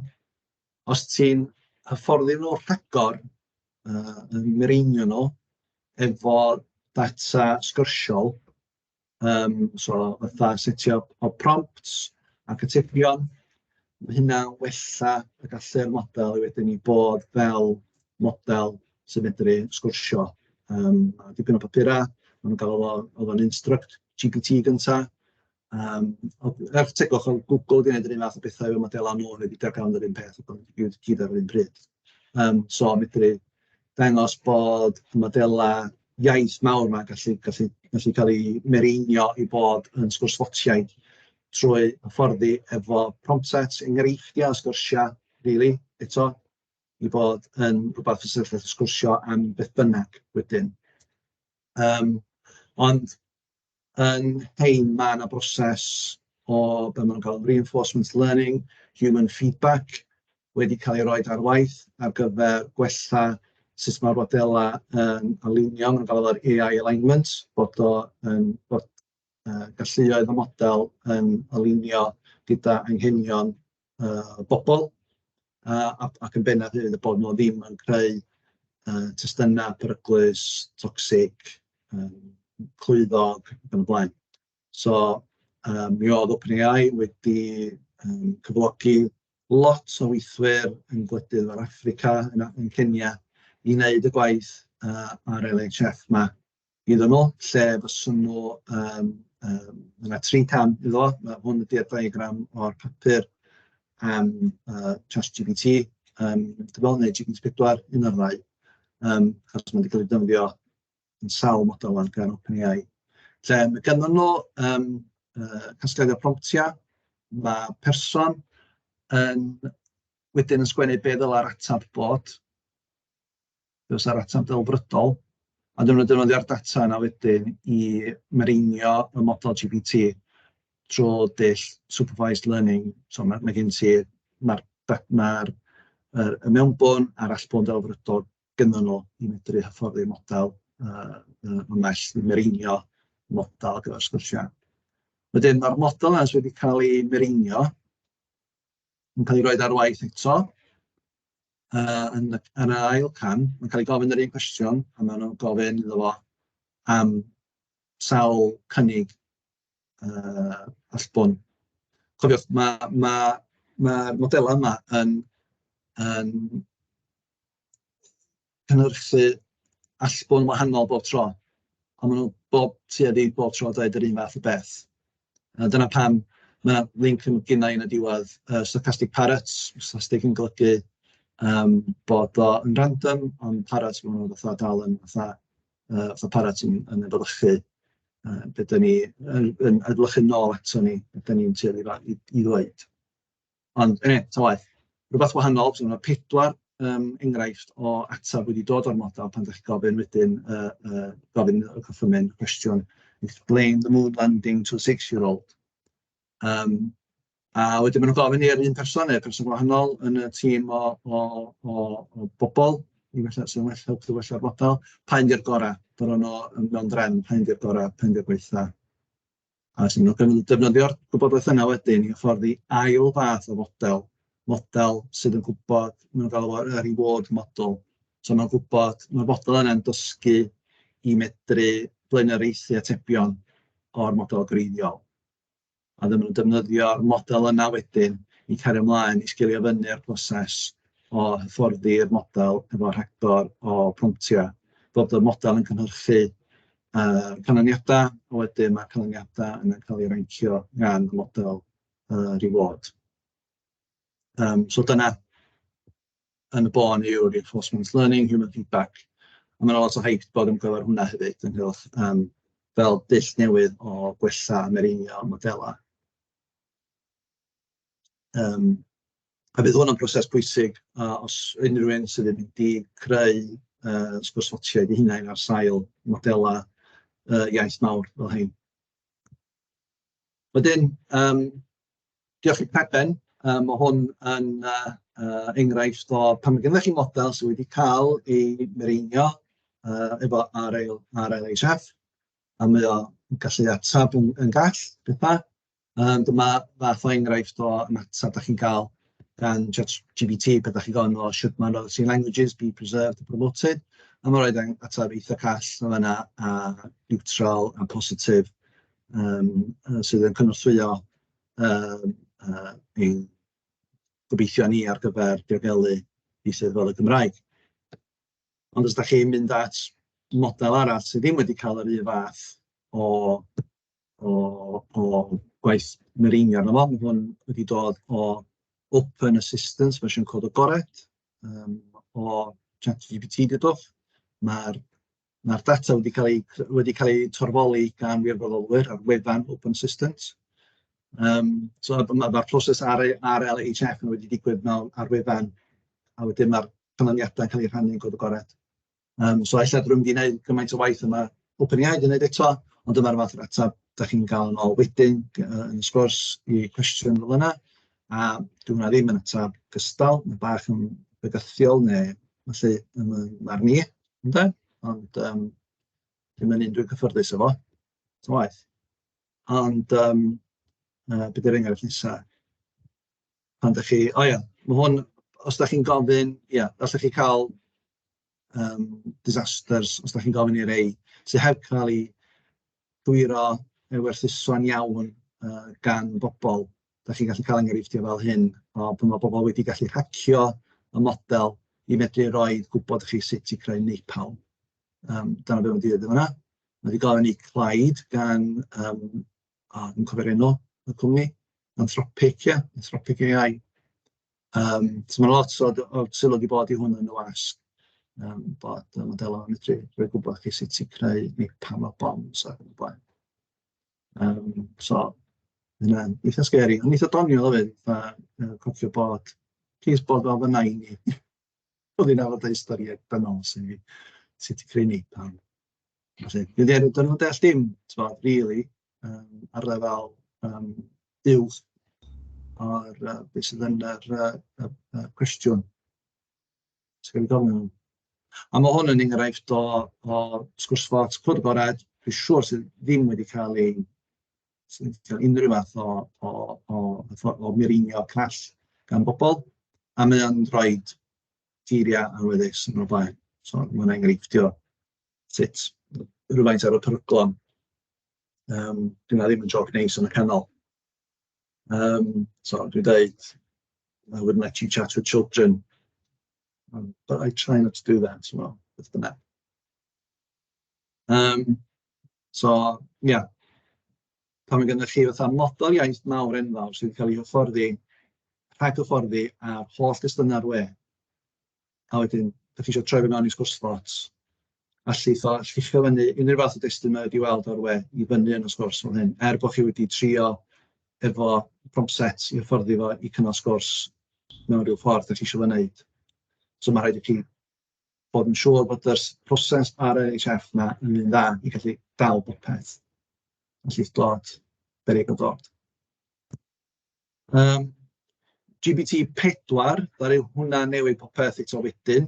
Os ti'n hyfforddi nhw rhagor, yy yn mireinio nhw efo data sgyrsiol, Yym, so fatha setio pop prompts ac atebion, ma' hynna'n wella y gallu'r model wedyn i bod fel model sy'n medru sgwrsio. Yym, ma' 'na dipyn o bapurau, ma' nhw'n galw fo oedd o'n instruct GPT gynta, yym ond er tegwch oedd Google 'di wneud yr un fath o bethau efo modelau nhw, o'n nhw 'di darganfod yr un peth, ond i gyd ar yr un pryd. Yym, so medru... dangos bod y modelau iaith mawr 'ma gallu gallu gallu cael eu mireinio i fod yn sgwrs ffotiaidd trwy hyfforddi efo prompt sets, enghreifftiau o sgyrsiau rili eto, i fod yn rywbeth fysa chi'n gallu sgwrsio am beth bynnag wedyn. Yym ond... Yn rhein, mae 'na broses o be maen nhw'n galw'n reinforcement learning, human feedback, wedi cael ei roid ar waith ar gyfer gwella sut mae'r modelau yn alinio, maen nhw'n galw fo'r AI alignment, bod o yn... bod yy galluoedd y model yn alinio gyda anghenion yy bobl, a a ac yn bennaf hefyd y bod nhw ddim yn creu yy testunau peryglus, toxic, yy clwyddog ac yn y blaen. So yy mi oedd OpenAI wedi yym cyflogi lot o weithwyr yn gwledydd fel Affrica, yn Kenya, i wneud y gwaith yy ar yr NHF 'ma. Hyd yno, lle fyswn nhw yym yym ma' 'na tri cam iddo fo, ma' hwn ydy'r diagram o'r papur am yy ChatGPT yym dwi'n meddwl neu GPT4, un o'r ddau, yym achos ma' 'di cael ei defnyddio yn sawl model ŵan gan OpenAI, lle ma' gennyn nhw yym yy casgliad o promptiau, ma' person yn wedyn yn sgwennu be ddylai'r ateb bod. Fe fysa'r ateb ddelfrydol, a dyna nhw'n defnyddio'r data yna wedyn i mereinio y model GPT drwy dull supervised learning. So mae, mae gen ti, mae'r ma y, y mewnbwn a'r allbwn ddelfrydol gynnyn nhw i medru hyfforddi'r model uh, yn well, i mereinio model gyda'r sgyrsiau. Wedyn mae'r model yna wedi cael ei mereinio, yn cael ei roed ar waith eto, Yy yn y yn yr ail cam, mae'n cael ei gofyn yr un cwestiwn a maen nhw'n gofyn iddo fo am sawl cynnig yy allbwn. Cofiwch, mae mae mae'r modelau yma yn yn cynhyrchu allbwn wahanol bob tro, ond maen nhw bob... tuedd i bob tro yn dweud yr un fath o beth. A dyna pam ma' 'na linc yn gynna i yn y diwedd, yy sarcastic parrots, sarcastic yn golygu yym bod o yn random, ond parrots maen nhw fatha dal yn fatha yy fatha parrot yn yn efelychu yy be dan ni yn yn efelychu'n ôl aton ni, be dan ni'n tueddu i ddweud. Ond yn eto waeth, rhywbeth wahanol, so mae pedwar um, enghraifft o ateb wedi dod o'r model pan ydych chi'n gofyn wedyn, uh, uh, gofyn y cyffymyn cwestiwn, explain the moon landing to a six-year-old. Um, a wedyn maen nhw'n gofyn i'r un person neu person gwahanol yn y tîm o, o, o, o bobl, i felly sy'n well helpu wella'r model, pa'n di'r gorau, bod o'n mewn drefn, pa'n di'r gorau, pa'n di'r gweitha. A wedyn maen nhw'n defnyddio'r gwybodaeth yna wedyn i hyfforddi ail fath o fodel, model sydd yn gwybod, maen nhw'n galw fo'r reward model, so maen nhw'n gwybod, ma'r fodel yna'n dysgu i medru blaenoriaethu atebion o'r model greiddiol, a wedyn maen nhw'n defnyddio'r model yna wedyn i cario ymlaen i sgilio fyny'r proses o hyfforddi'r model efo rhagor o promptiau, bod y model yn cynhyrchu uh, canlyniadau, a wedyn mae canlyniadau yn cael ei rancio gan y model uh, reward. Um, so dyna yn y bôn yw reinforcement learning, human feedback, a mae'n lot o hype bod yn gyfer hwnna hefyd, yn hwnnw, um, fel dull newydd o gwella mereinio modelau. Um, A bydd hwn yn broses pwysig a os unrhyw un sydd yn mynd i creu yy sgwrshotiaid eu hunain ar sail modelau yy iaith mawr fel hyn. Wedyn yym diolch i Preben, yy ma' hwn yn yy yy enghraifft o pan ma' gynnoch chi model sy wedi cael ei mireinio yy efo RL RLHF a mae o'n gallu atab yn gall petha. Yym dyma fath o enghraifft o ymateb dach chi'n gael gan ChatGPT pan dach chi'n gofyn o sut ma'r yy see languages being preserved and promoted, a mae'n rhoid ang- ateb eitha call yn fan'na a niwtral a positif yym yy sydd yn cynorthwyo yym yy ein gobeithion ni ar gyfer diogelu ieithoedd fel y Gymraeg. Ond os dach chi'n mynd at model arall sydd ddim wedi cael yr un fath o o o gwaith mireinio arno fo, ma' hwn wedi dod o Open Assistance fersiwn cod agored yym o ChatGPT dudwch, ma'r ma'r data wedi cael ei c- wedi cael ei torfoli gan wirfoddolwyr ar wefan Open Assistance yym so ma' ma' ma'r proses ar ei ar ar LHF yn wedi digwydd mewn ar wefan a wedyn ma'r canlyniadau'n cael eu rhannu'n cod agored. Um, so ella drwy mynd i wneud gymaint o waith yma OpenAI wedi wneud eto, ond dyma'r fath o'r ateb da chi'n gael yn ôl wedyn yn y sgwrs i cwestiwn fel yna. A dwi'n hwnna ddim yn ateb gystal, mae bach yn bygythiol neu felly yn ar ni, ynddo? Ond um, ddim yn un dwi'n cyffyrddus efo, ta waith. Ond um, uh, bydd yr enghraifft nesaf. pan dach chi... o ia, ma' hwn... os dach chi'n gofyn, ia, allwch chi cael yym disasters os dach chi'n gofyn i rei sy heb cael eu gywiro neu werthuso'n iawn yy gan bobl, dach chi'n gallu cael enghreifftiau fel hyn o pan ma' pobl wedi gallu hacio y model i fedru rhoi gwybod i chi sut i creu napalm, yym dyna be ma'n dweud yn fan'na. Ma' 'di gofyn i Clyde gan yym o, dwi'n cofio'r enw y cwmni, Anthropic ia? Anthropic AI. Yym, so ma' 'na lot o d- o sylw 'di bod i hwn yn y wasg, yym, bod y modelau yn medru rhoi gwybod i chi sut i creu neu pa mor bombs ac yn y blaen. Yym, so ma' hynna'n eitha sgeri, ond eitha doniol hefyd, fatha yy cofio bod plis bod fel fy nain i, oedd hi'n arfer deud storïau dynol wrtha i, sut i creu napalm. Felly, dydy e... 'dyn nhw ddim yn deall dim, tibod, rili, yym, ar lefel, yym, uwch o'r, yy, be sydd yn yr, yy, y y cwestiwn sy ganddo fo fan 'na. A ma' hwn yn enghraifft o o sgwrs fot cwrdd agored, dwi'n siŵr, sydd ddim wedi cael ei... sy ddim wedi cael unrhyw fath o o o hyfforddi o mireinio call gan bobl, a mae o'n rhoid geiriau awyddus yn y blaen. So, ma' hwnna'n enghreifftiau o hynny. sut rhywfaint ar y peryglon. Um, Dyna ddim yn job neis yn y canol. Um, so, dwi'n dweud, I wouldn't let you chat with children. Um, but I try not to do that, ti'n meddwl, beth bynnag. Um, so, ie. Yeah. Pan mae gennych chi fatha model iaith mawr enfawr sydd wedi cael ei hyfforddi, rhag hyfforddi ar holl gystynau'r we, a wedyn dach chi eisiau troi fe mewn i sgwrs Spots, a llwytho, llicio fyny unrhyw fath o destun mae wedi weld o'r we i fyny yn y sgwrs fel hyn, er bod chi wedi trio efo prompt set i hyfforddi fo i cynnal sgwrs mewn rhyw ffordd dach chi eisiau fo wneud. So mae'n rhaid i chi bod yn siŵr bod yr proses ar y HF 'na yn un dda i gallu dal popeth yn llwyth dod, beryg o dod. Yym GPT pedwar ddaru hwnna newid popeth eto wedyn,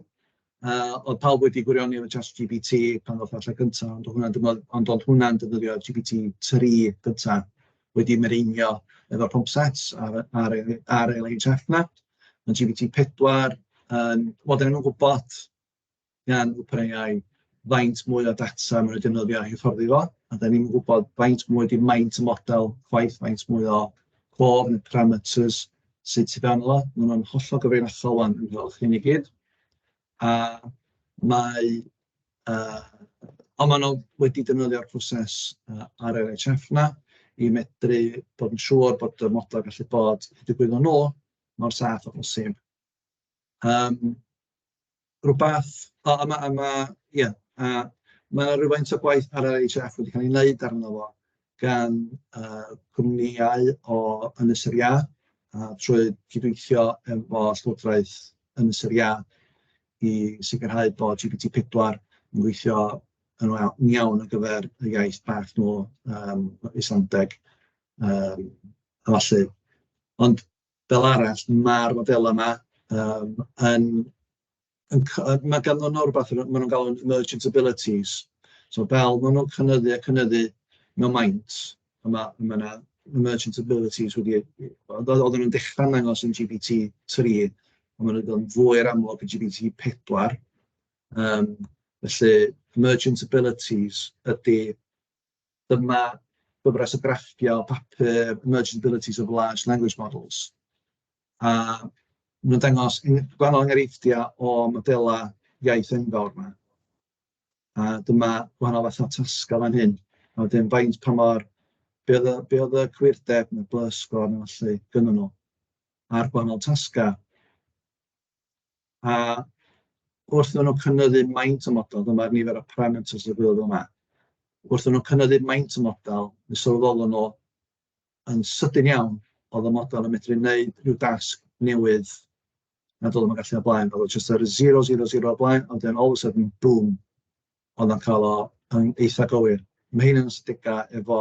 yy oedd pawb wedi gwirioni efo Chat GPT pan ddoth o allan gynta, ond oedd hwnna'n dymod- ond oedd hwnna'n defnyddio GPT tri gynta wedi mireinio efo'r pump set a'r a'r yy a'r LHF 'na, ma' GPT pedwar yn wel dan ni'm yn gwbod gan OpenAI faint mwy o data maen nhw'n defnyddio i hyfforddi fo, a dan ni'm yn gwybod faint mwy ydy maint y model chwaith, faint mwy o clawr neu parameters sydd tu fewn iddo fo. Maen nhw'n hollol gyfrinachol 'wan ynghylch hyn i gyd, a mae yy... ond maen nhw wedi defnyddio'r proses yy RLHF 'na i medru bod yn siŵr bod y model yn gallu bod yn ddigwydd o nhw mor saff â phosib. Yym. rywbeth o a ma' a ma' ia a ma' 'na rywfaint o gwaith ar yr NHF wedi cael ei wneud arno fo gan yy cwmnïau o Ynys yr Iâ a trwy gydweithio efo Llywodraeth Ynys yr Iâ i sicrhau bod GPT pedwar yn gweithio yn wa- yn iawn ar gyfer y iaith bach nhw yym Islandeg yym a ballu ond... Fel arall, ma'r modelau 'ma yym yn yn c- yy ma' ganddyn nhw rywbeth maen nhw'n galw'n emergent abilities, so fel maen nhw'n cynyddu a cynyddu mewn maint, a ma' ma' 'na emergent abilities wedi eu... oedd oedden nhw'n dechrau'n dangos yn GPT tri, ond maen nhw 'di bod yn fwy yr amlwg yn GPT pedwar, yym felly emergent abilities ydy Dyma gyfres o grafftiau papur Emerging Abilities of Large Language Models. A maen nhw'n dangos gwahanol enghreifftiau o modelau iaith enfawr yma. A dyma gwahanol fathau o tasgau fan hyn. A wedyn faint pa mor... be oedd y, be oedd y cywirdeb neu'r blusgor neu felly gynddyn nhw ar gwahanol tasgau. a wrth iddyn nhw cynyddu maint y model, dyma'r nifer o parameters y gwylio yma, wrth iddyn nhw cynyddu maint y model, mi sylweddolwn nhw yn sydyn iawn oedd y model yn medru wneud rhyw dasg newydd nad oedd yn gallu o blaen. Oedd o just yr 000 o blaen, ond then all of a sudden, boom, oedd o'n cael o yn eitha gywir. Mae hyn yn stigau efo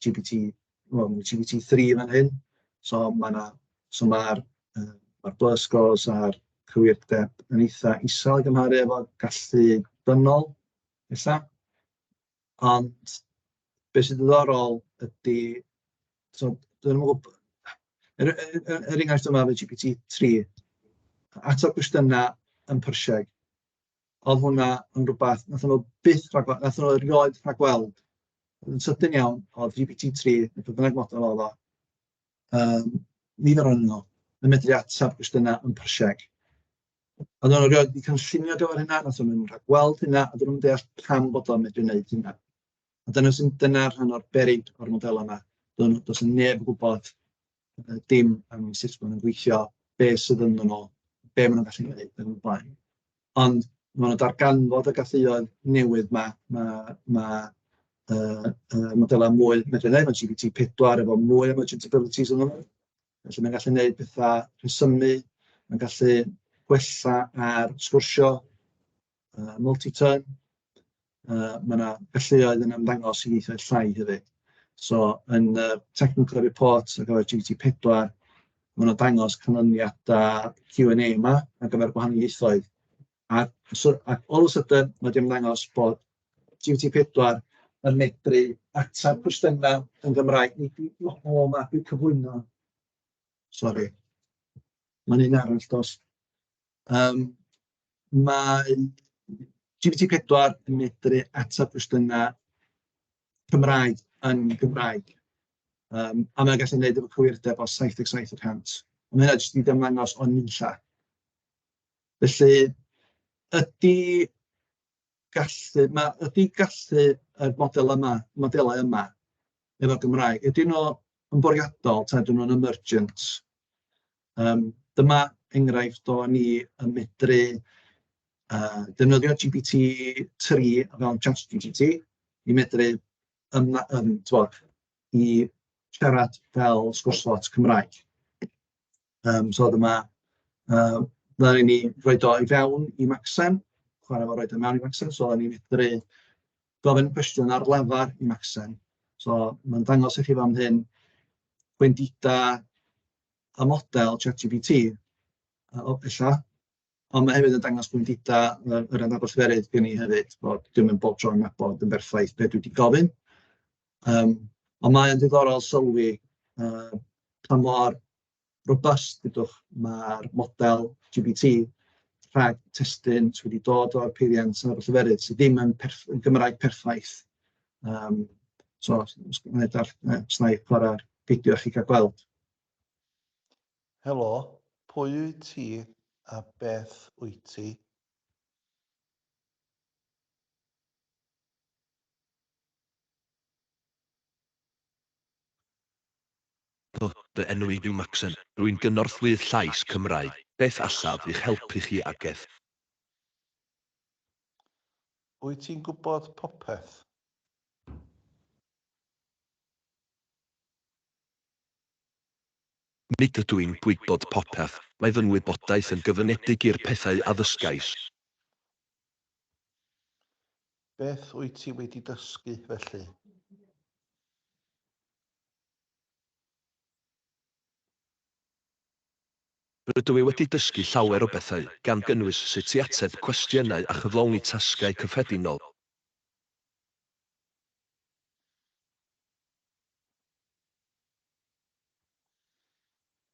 GPT, wel ma' GPT three fan hyn, so ma' 'na... so ma'r yy ma'r buzz scores a'r cywirdeb yn eitha isel i gymharu efo gallu dynol ella. Ond be sy'n ddiddorol ydy, so dwi'm yn gwybod er er er enghraifft efo GPT three, ateb cwestiynau yn Persian. oedd hwnna yn rywbeth wnaethon nhw byth rhagweld, wnaethon nhw erioed rhagweld. Yn sydyn iawn, oedd GPT-3, neu beth bynnag model oedd o, um, nifer o'n nhw, yn medru ateb cwestiynau yn Persieg. A nhw'n rhoi wedi cynllunio gyfer hynna, nath nhw'n rhagweld hynna, a dyn nhw'n deall pam bod o'n medru wneud hynna. A dyna sy'n dyna rhan o'r berig o'r model yma. Does dim neb yn gwybod yy dim am sut maen nhw'n gweithio, be sydd ynddyn nhw, be maen nhw'n gallu wneud ac yn y blaen. Ond ma' 'na darganfod y galluoedd newydd 'ma, ma' ma' yy yy modelau mwy medru wneud, ma' GPT pedwar efo mwy o merchant abilities ynddo fo, felly mae'n gallu wneud petha rhesymu, mae'n gallu gwella ar sgwrsio. yy multi-turn, yy ma' 'na galluoedd yn ymddangos i ieithoedd llai hefyd. So yn y technical report ar gyfer GPT4, ma' nhw'n dangos canlyniadau Q and A 'ma ar gyfer gwahanol ieithoedd. A so a all of a sudden ma' 'di ymddangos bod GPT4 yn medru ateb cwestiynau yn Gymraeg. Nid yw o o 'ma dwi'n cyflwyno. Sori. Mae'n un arall dos. Yym mae GPT pedwar yn medru ateb cwestiynau Cymraeg yn Gymraeg. Yym a mae'n gallu gwneud efo cywirdeb o 77 y cant. A ma' hynna jyst yn dangos o'n ninlla. Felly ydy gallu... ma' ydy gallu y model yma... modelau yma efo Gymraeg, ydyn nhw yn bwriadol ta ydyn nhw'n emergent? Yym dyma enghraifft o ni yn medru yy defnyddio GPT tri o fewn ChatGPT i medru ymdd- yym timod i siarad fel sgwrs bot Cymraeg yym so dyma yy ma' raid i ni roid o i fewn i Macsen chwarae fo roid o mewn i Macsen so o'n i'n medru gofyn cwestiwn ar lafar i Macsen so ma'n dangos i chi fan hyn gwendidau y model ChatGPT, yy o ella, ond ma' hefyd yn dangos gwendidau yy yr adnabod lleferydd gen i hefyd, bod dim yn bob tro yn nabod yn berffaith be' dwi 'di gofyn, yym ond mae o'n ddiddorol sylwi yy pa mor robust dudwch ma'r model GPT rhag testun sy' wedi dod o'r peiriant a'r lleferydd sy' ddim yn perff- yn Gymraeg perffaith, yym so os os wna i darll- os wna i chwarae'r fideo i chi gael gweld. Helo, pwy wyt ti a beth wyt ti? Helo, fy enw i yw Maxen. Rwy'n gynorthwyydd llais Cymraeg. Beth allaf i'ch helpu chi ag ef? Wyt ti'n gwybod popeth? Nid ydw i'n gwybod popeth, mae fy ngwybodaeth yn gyfyngedig i'r pethau a ddysgais. Beth wyt ti wedi dysgu, felly? Rydw i wedi dysgu llawer o bethau, gan gynnwys sut i ateb cwestiynau a chyflawni tasgau cyffredinol.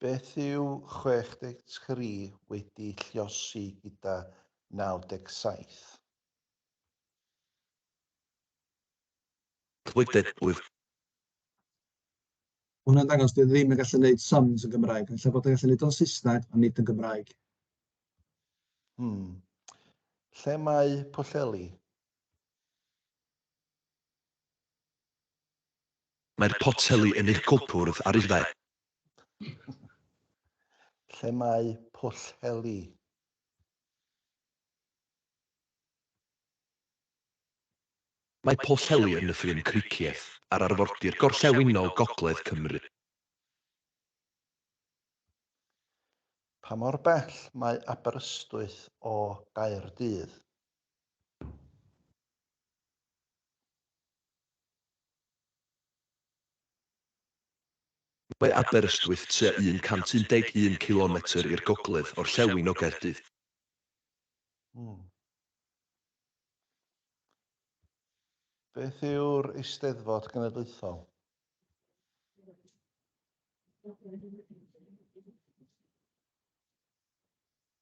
Beth yw 63 wedi lliosi gyda 97? Twitter wyf. Mae hwnna'n dangos dwi ddim yn gallu neud sums yn Gymraeg. Ella bod yn gallu neud o'n Saesneg, ond nid yn Gymraeg. Hmm. Lle mae Pwllheli? Mae'r poteli yn eich cwpwrdd ar eich dde. Lle mae poteli? Mae poteli yn nythu yn Cricieth ar arfordir gorllewinol gogledd Cymru. Pa mor bell mae Aberystwyth o Gaerdydd? Mae Aberystwyth tua 111 cilometr i'r gogledd orllewin o Gaerdydd. Beth yw'r Eisteddfod Genedlaethol?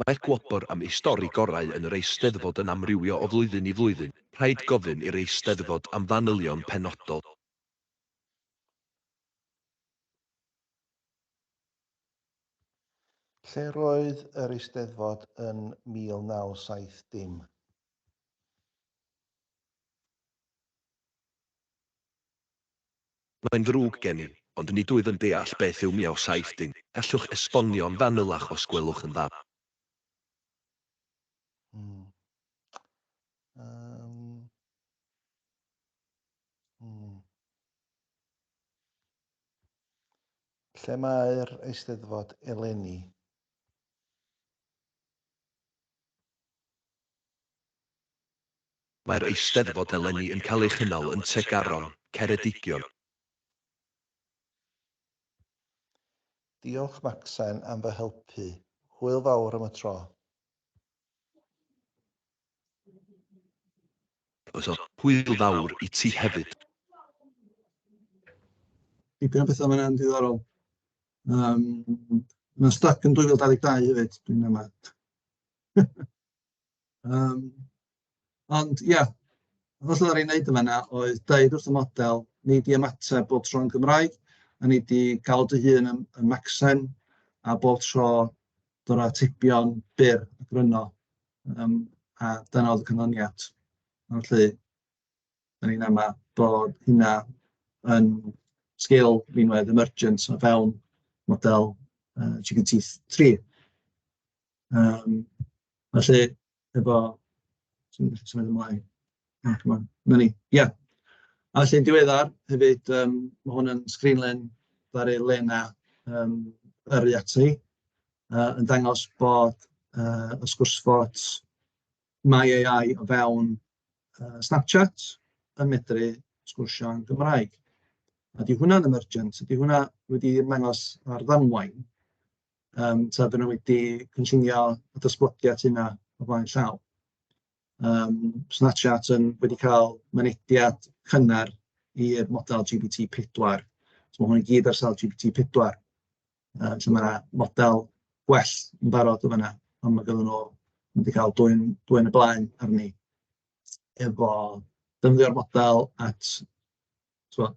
Mae gwobr am ei stori gorau yn yr Eisteddfod yn amrywio o flwyddyn i flwyddyn, rhaid gofyn i'r Eisteddfod am fanylion penodol. Lle roedd yr Eisteddfod yn 1970? Mae'n ddrwg gen i, ond nid wyf yn deall beth yw Miao Saith Dim, gallwch esbonio'n fanylach os gwelwch yn dda? Hmm. Um. Hmm. Lle mae'r eisteddfod eleni? Mae'r Eisteddfod eleni yn cael ei chynnal yn Tregaron, Ceredigion. Diolch Macsen am fy helpu. Hwyl fawr am y tro. Croeso. Hwyl fawr i ti hefyd. Dipyn o bethau fan'na yn diddorol. Yym, mae o'n styc yn 2022 hefyd, dwi'n ama. Yym, ond ia, yr holl oedd e'n wneud yn fan'na oedd deud wrth y model, nei di ymateb bob tro'n Gymraeg, a nei di gael dy hun yn yn Macsen, a bob tro dod â atebion byr a gryno, yym a dyna oedd y canlyniad. Felly, dan ni'n amau bod hynna yn sgil rinwedd emergent o fewn model yy GPT3. Yym, felly efo... swn i'n gallu symud ymlaen? Na, dim ond 'na ni. Ia. A felly'n diweddar hefyd, yym, ma' hwn yn sgrinlen ddaru Lena, yym, yrru ati, yy, yn dangos bod, yy, y sgwrs bots Mae AI o fewn, yy, Snapchat yn medru sgwrsio yn Gymraeg. A 'di hwnna'n emergent? Ydy hwnna wedi ymddangos ar ddamwain? Yym tibod oedden nhw wedi cynllunio y dosblodiad yna o flaen llaw. Yym Snapchat yn wedi cael mynediad cynnar i'r model GPT pedwar. So ma' hwn i gyd ar sail GPT pedwar. Yy so ma' 'na model gwell yn barod yn fan'na, ond ma' ganddo fo... ma' nhw 'di cael dwyn dwyn y blaen arni efo defnyddio'r model at tibod...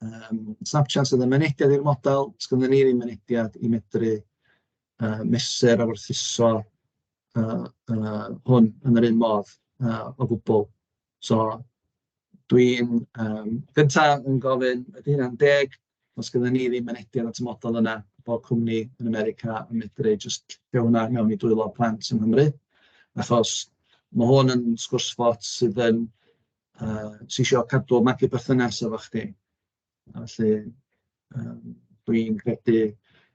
Yym snapshots oedd yn mynediad i'r model, does ganddo ni ddim mynediad i medru yy mesur a werthuso yy yy hwn yn yr un modd yy o gwbl. So dwi'n yym gynta yn gofyn ydy hynna'n deg? Does ganddo ni ddim mynediad at y model yna, bod cwmni yn America yn medru jyst rhoi hwnna i mewn i dwylo plant yng Nghymru, achos ma' hwn yn sgwrs-bot sydd yn uh, sy eisiau cadw magu berthynas efo chdi. A felly, um, dwi'n credu,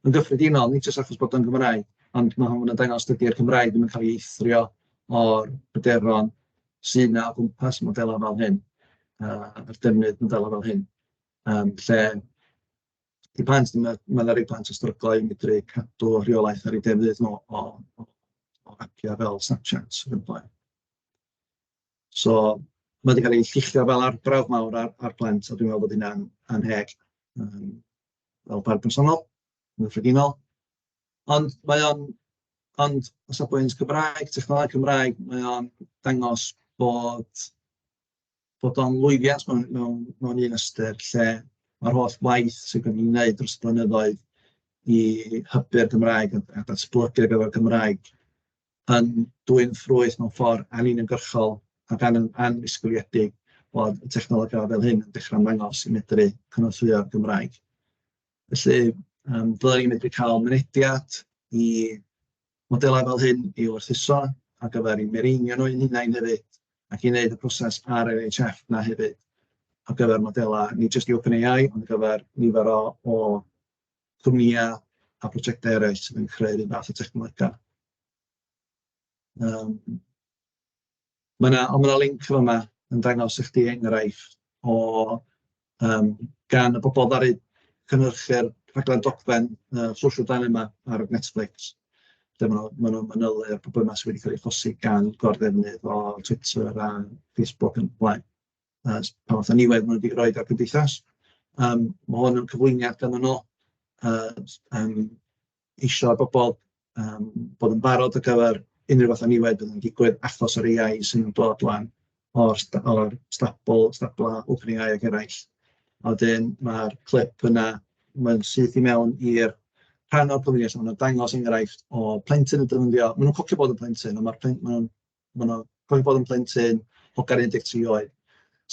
yn gyffredinol, nid jyst achos bod o'n Gymraeg, ond mae hwn yn dangos dydy'r Cymraeg ddim yn cael ei eithrio o'r bryderon sy'n yna o gwmpas modelau fel hyn, uh, a'r defnydd modelau fel hyn, um, lle i plant, mae yna ma rei plant yn stryglo i medru cadw rheolaeth ar ei defnydd nhw o, o, o appiau fel Snapchat yn blaen. So ma' 'di cael ei lluchio fel arbrawf mawr ar ar Plant, a dwi'n meddwl bod hynna'n annheg yym fel barn personol, yn gyffredinol. Ond mae o'n... ond o safbwynt Cymraeg, technoleg Cymraeg, mae o'n dangos bod bod o'n lwyddiant mewn mewn mewn un ystyr lle ma'r holl waith sy gynnon ni'n wneud dros y blynyddoedd i hybu'r Gymraeg a a datblygu ar gyfer y Gymraeg, yn dwyn ffrwyth mewn ffordd anuniongyrchol ac an- annisgwyliedig bod y technolegau fel hyn yn dechrau ymddangos i medru cynorthwyo'r Gymraeg. Felly yym dylai ni medru cael mynediad i modelau fel hyn i werthuso ar gyfer ein mireinio nhw ein hunain hefyd, ac i wneud y proses ar NHF 'na hefyd ar gyfer modelau, nid jyst i OpenAI, ond ar gyfer nifer o o cwmnïau a phrosiectau eraill sydd yn creu ryw fath o dechnolegau. Yym mae 'na... ond mae 'na linc fan'na yn dangos i chdi enghraifft o yym gan y bobl ddaru cynhyrchu'r rhaglen dogfen yy Social Dilemma ar Netflix, lle ma' ma' nhw'n manylu'r problemau sy wedi cael eu achosi gan gor-ddefnydd o Twitter a Facebook yn y blaen. yy pa fath o niwed maen nhw 'di roid ar y gymdeithas. Yym, ma' hwn yn cyflwyniad ganddo fo yy s- yym isio i bobl yym bod yn barod ar gyfer unrhyw fath o niwed fydd yn digwydd achos yr AI sy'n dod ŵan o'r st- o'r Stabl- Stabla' OpenAI ac eraill, a wedyn ma'r clip yna mae'n syth i mewn i'r rhan o'r cyfrif lle maen nhw'n dangos enghraifft o plentyn yn defnyddio... maen nhw'n cogio bod yn blentyn ond ma'r plen- maen nhw'n Maen nhw'n cofio bod yn plentyn hogan 13 oed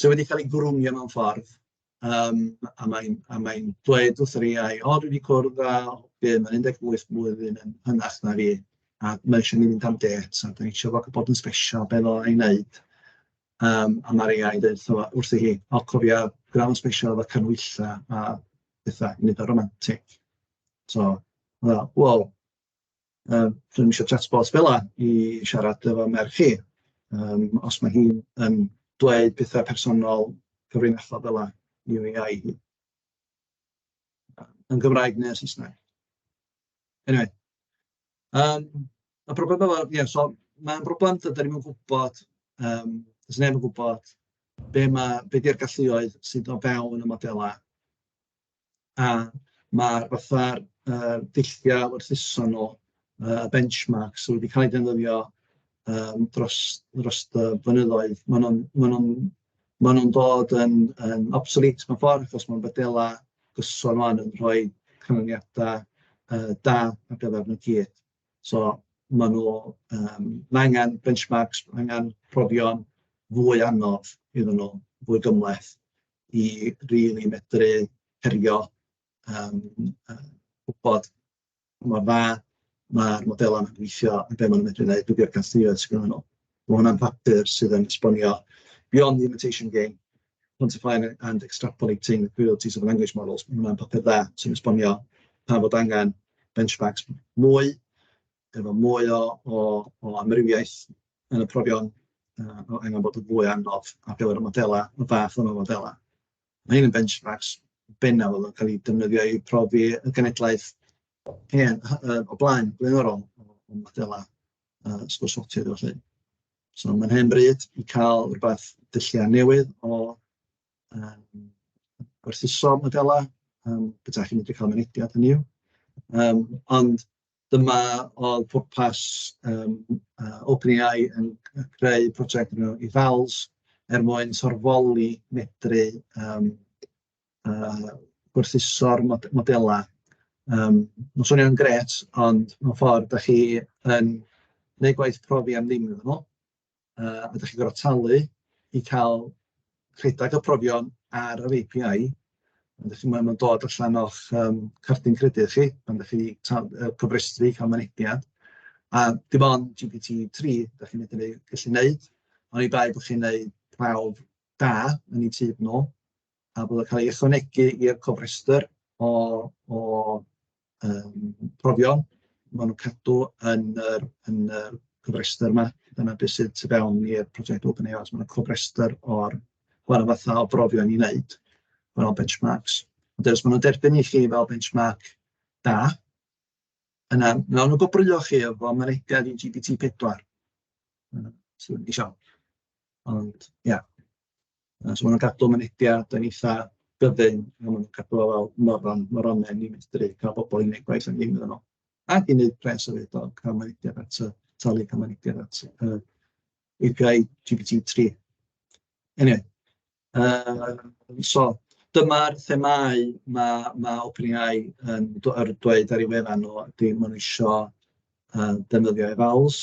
sy wedi cael ei grwmio mewn ffordd, yym, a mae'n a mae'n dweud wrth yr AI, "O, dwi 'di cwrdd â hogyn mae'n 18 blwyddyn yn hynach na fi, a mae isio i ni fynd am dêt, a dan ni isio fo cael bod yn sbesial, be ddylai ei wneud?" Yym, a ma'r AI yn deud wrtho fo wrthi hi, "O cofia, gwna fo'n sbesial efo canhwyllau a petha, nid o romantic." Tibod, fatha, "wel"... Yy dwi'm isio chatbot fela i siarad efo merch chi, yym os ma' hi'n yn dweud petha personol cyfrinachol fela i'w AI hi. Yn Gymraeg neu yn Saesneg. Eniwe yym y broblem efo... ia so mae'n broblem dydan ni'm yn gwybod yym does neb yn gwybod be ma'... be 'di'r galluoedd sydd o fewn y modelau. a ma'r fatha'r yy dulliau gwerthuso nhw, yy y benchmarks wedi cael eu defnyddio yym dros dros y blynyddoedd, maen nhw'n maen nhw'n maen nhw'n dod yn yn obsolete mewn ffordd achos ma' modelau gyson ŵan yn rhoi canlyniadau yy da ar gyfer nhw i gyd, so maen nhw yym ma' angen benchmarks, ma' angen profion fwy anodd iddyn nhw, fwy gymhleth. i rili medru herio, yym, yy gwybod mor dda ma'r modelau 'ma'n gweithio a be maen nhw'n medru wneud, be 'di'r castiwraeth sy gennyn nhw. Ma' hwnna'n papur sydd yn esbonio beyond the imitation game, quantifying and extrapolating the cruelties of language models, ma' hwnna'n papur dda sy'n esbonio pam fod angen benchmarks mwy. efo mwy o o o amrywiaeth yn y profion yy o angen bod yn fwy anodd ar gyfer y modelau, y fath yma o fodelau. Mae hyn yn benchmarks bennaf oedd yn cael ei defnyddio i profi y genedlaeth hen yy o blaen, blaenorol, o modelau yy sgwrshogion a ballu. So mae'n hen bryd i cael rywbeth dulliau newydd o yym gwerthuso modelau, yym byta chi'n medru cael mynediad hynny yw yym ond... Dyma oedd pwrpas yym yy OpenAI yn yn creu project o'r enw Evals er mwyn sorfoli medru yym yy gwerthuso'r mod- modelau yym ma'n swnio'n grêt ond mewn ffordd dach chi yn wneud gwaith profi am ddim iddyn nhw. yy a dach chi'n gorfod talu i cael rhedeg y profion ar yr API, ond felly maen nhw'n dod allan o'ch yym cardyn credyd chi pan dach chi tal- yy cofrestru cael mynediad, a dim ond GPT3 dach chi'n medru gallu wneud, oni bai bod chi'n wneud prawf da yn eu tyb nhw, a bod o'n cael ei ychwanegu i'r cofrestr o o yym profion maen nhw'n cadw yn yr yn yr yn yr rhestr 'ma, dyna be sydd tu fewn i'r project OpenAI, so ma' 'na cofrestr o'r gwahanol fathau o brofion i wneud, gwahanol benchmarks, ond os maen nhw'n derbyn i chi fel benchmark da, yna wnawn nhw gwobrwyo chi efo mynediad i GPT pedwar, os dach chi isio, ond ia. Yy so maen nhw'n cadw mynediad yn eitha gyfyng, a maen nhw'n cadw o fel moron moronen i fedru cael pobl i wneud gwaith am ddim iddyn nhw. Ac i wneud pres o fyd o cael mynediad at y talu cael mynediad at yr API GPT-3. Eniwe, yy so dyma'r themâu ma' ma' OpenAI yn dw- ar dweud ar ei wefan nhw, ydy maen nhw isio yy defnyddio evals,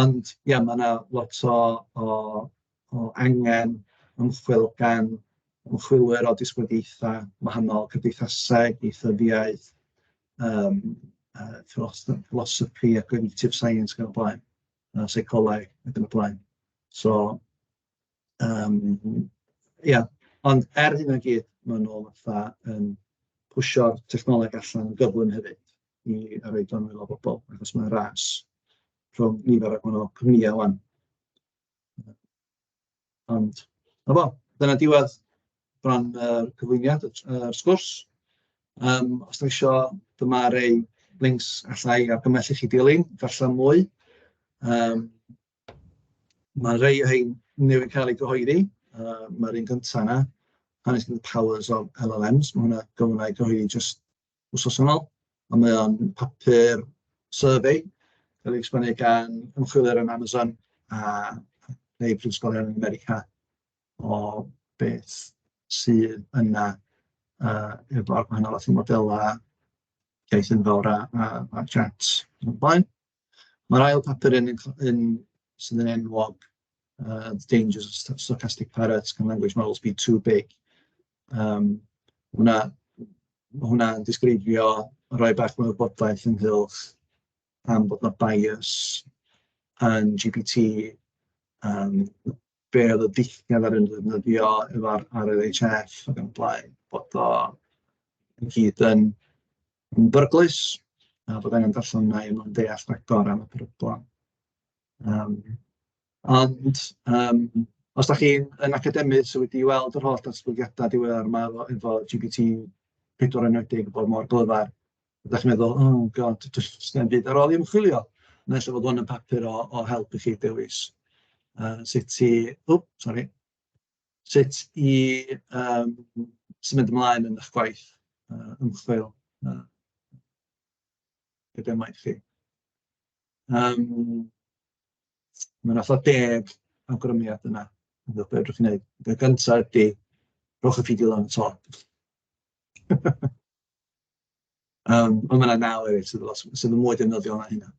Ond ia, ma' 'na lot o o o angen ymchwil gan ymchwilwyr o disgyblaethau gwahanol, cymdeithasau, ieithyddiaeth, yym yy ffilosd- philosophy a cognitive science ac yn y blaen, a seicoleg ac yn y blaen. So... Yym ia, ond er hynna i gyd, maen nhw fatha yn pwshio'r technoleg allan yn gyflym hefyd i roid o i waelod pobl, achos mae'n ras rhwng nifer o gwahanol cwmnïau 'wan. Ond 'na fo, dyna diwedd ran yr cyflwyniad, y y sgwrs. Yym os dach chi isio, dyma rei lincs alla i argymell i chi dilyn, darllen mwy yym. Ma' rhei o rhein newydd cael eu cyhoeddi, yy ma'r un gynta 'na, Harnessing the Powers of LLMs, ma' hwnna gawn ni gyhoeddi jyst wsos yn ol, a mae o'n papur survey cael ei esblygu gan ymchwilwyr yn Amazon a rhei prifysgolion yn America o beth sydd yna yy efo'r gwahanol fath o modelau, llais enfawr a a a chats ac yn y blaen. Mae'r ail papur yn yn yn sydd yn enwog uh, the dangers of st- stochastic parrots can language models be too big. Um, hwna, mae hwnna'n disgrifio rhoi bach mwy o bodaeth ynghylch am bod yna bias yn GPT, um, be oedd y dillad ar yn ddefnyddio efo'r RLHF ac yn blaen, bod o yn hyd yn yn beryglus, a bod angen darllen mwy er mwyn deall rhagor am y peryglon. Yym, ond yym os dach chi'n yn academydd sydd wedi weld yr holl ddatblygiadau diweddar 'ma efo efo GPT pedwar enwedig yn bod mor glyfar, dach chi'n meddwl, "oh god, does dim byd ar ôl i ymchwilio". Naill ai fod hwn yn papur o o help i chi dewis yy sut i... ww sori. Sut i yym symud ymlaen yn eich gwaith uh, ymchwil uh, gyda maith chi. Um, Mae'n atho deg awgrymiad yna. Yn dweud beth chi'n gwneud. Y gyntaf ydy, rhowch y fideo lan y to. Um, ond mae yna naw hefyd sydd, lot, sydd yn mwy defnyddiol na hynna.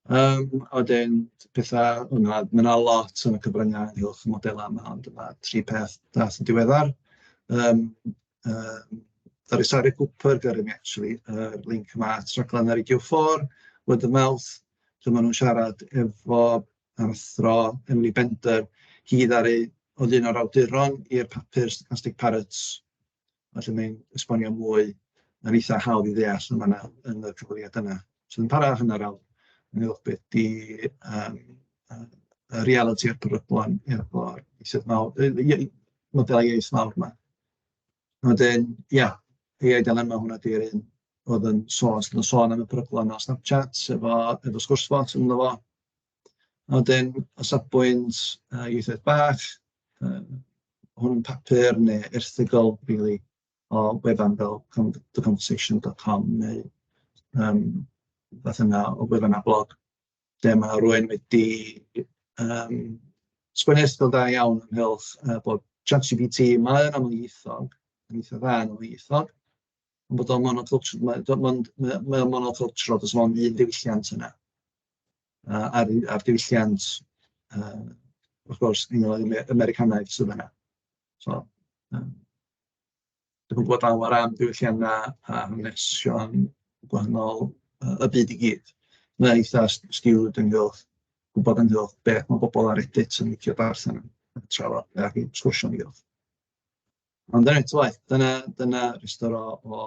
Um, a wedyn, pethau, o na, mae yna lot yn y cyfryngau ynghylch y modelau yma, ond yna tri peth dath yn diweddar. Um, um, Dari Sari Cooper, gyda mi actually, uh, link yma at raglen ar Radio 4, Word of Mouth, lle maen nhw'n siarad efo a'r athro Emily Bender, hi ddaru oedd un o'r awduron i'r papur Stochastic Parrots Felly mae'n esbonio mwy, mae'n eitha hawdd i ddeall yn fan'na, yn y cyfweliad yna. So yn para hanner awr, yn uwch beth 'di yym yy y realiti a'r peryglon efo'r ieithoedd mawr, yy ie yy modelau iaith mawr 'ma. A wedyn, ia, AI dilemma, hwnna 'di'r un oedd yn sôn os 'di o'n sôn am y peryglon ar Snapchat efo efo sgwrs bots ynddo fo. A wedyn o safbwynt yy ieithoedd bach, yy hwn yn papur neu erthygl rili o wefan fel con- theconversation dot com neu yym rywbeth yna o wefan a blog lle ma' rywun wedi yym sgwennu erthygl da iawn ynghylch yy bod ChatGPT, mae o'n amlieithog, yn eitha dda yn amlieithog, ond bod o'n monoculture- mae o mond mae o mae o'n monocultural, does dim ond un diwylliant yna. a a'r u- a'r diwylliant yy wrth gwrs un o'r ame- Americanaidd sydd fan'na, so yym dwi'm yn gwybod llawer am ddiwylliannau a hanesion gwahanol yy y byd i gyd, mae o'n eitha' s- skewied ynghylch gwybod ynghylch beth ma' pobl ar Reddit yn licio darllen a trafod a ryw sgwrsio ynghylch. Ond er enghraifft fel dyna dyna rhestr o o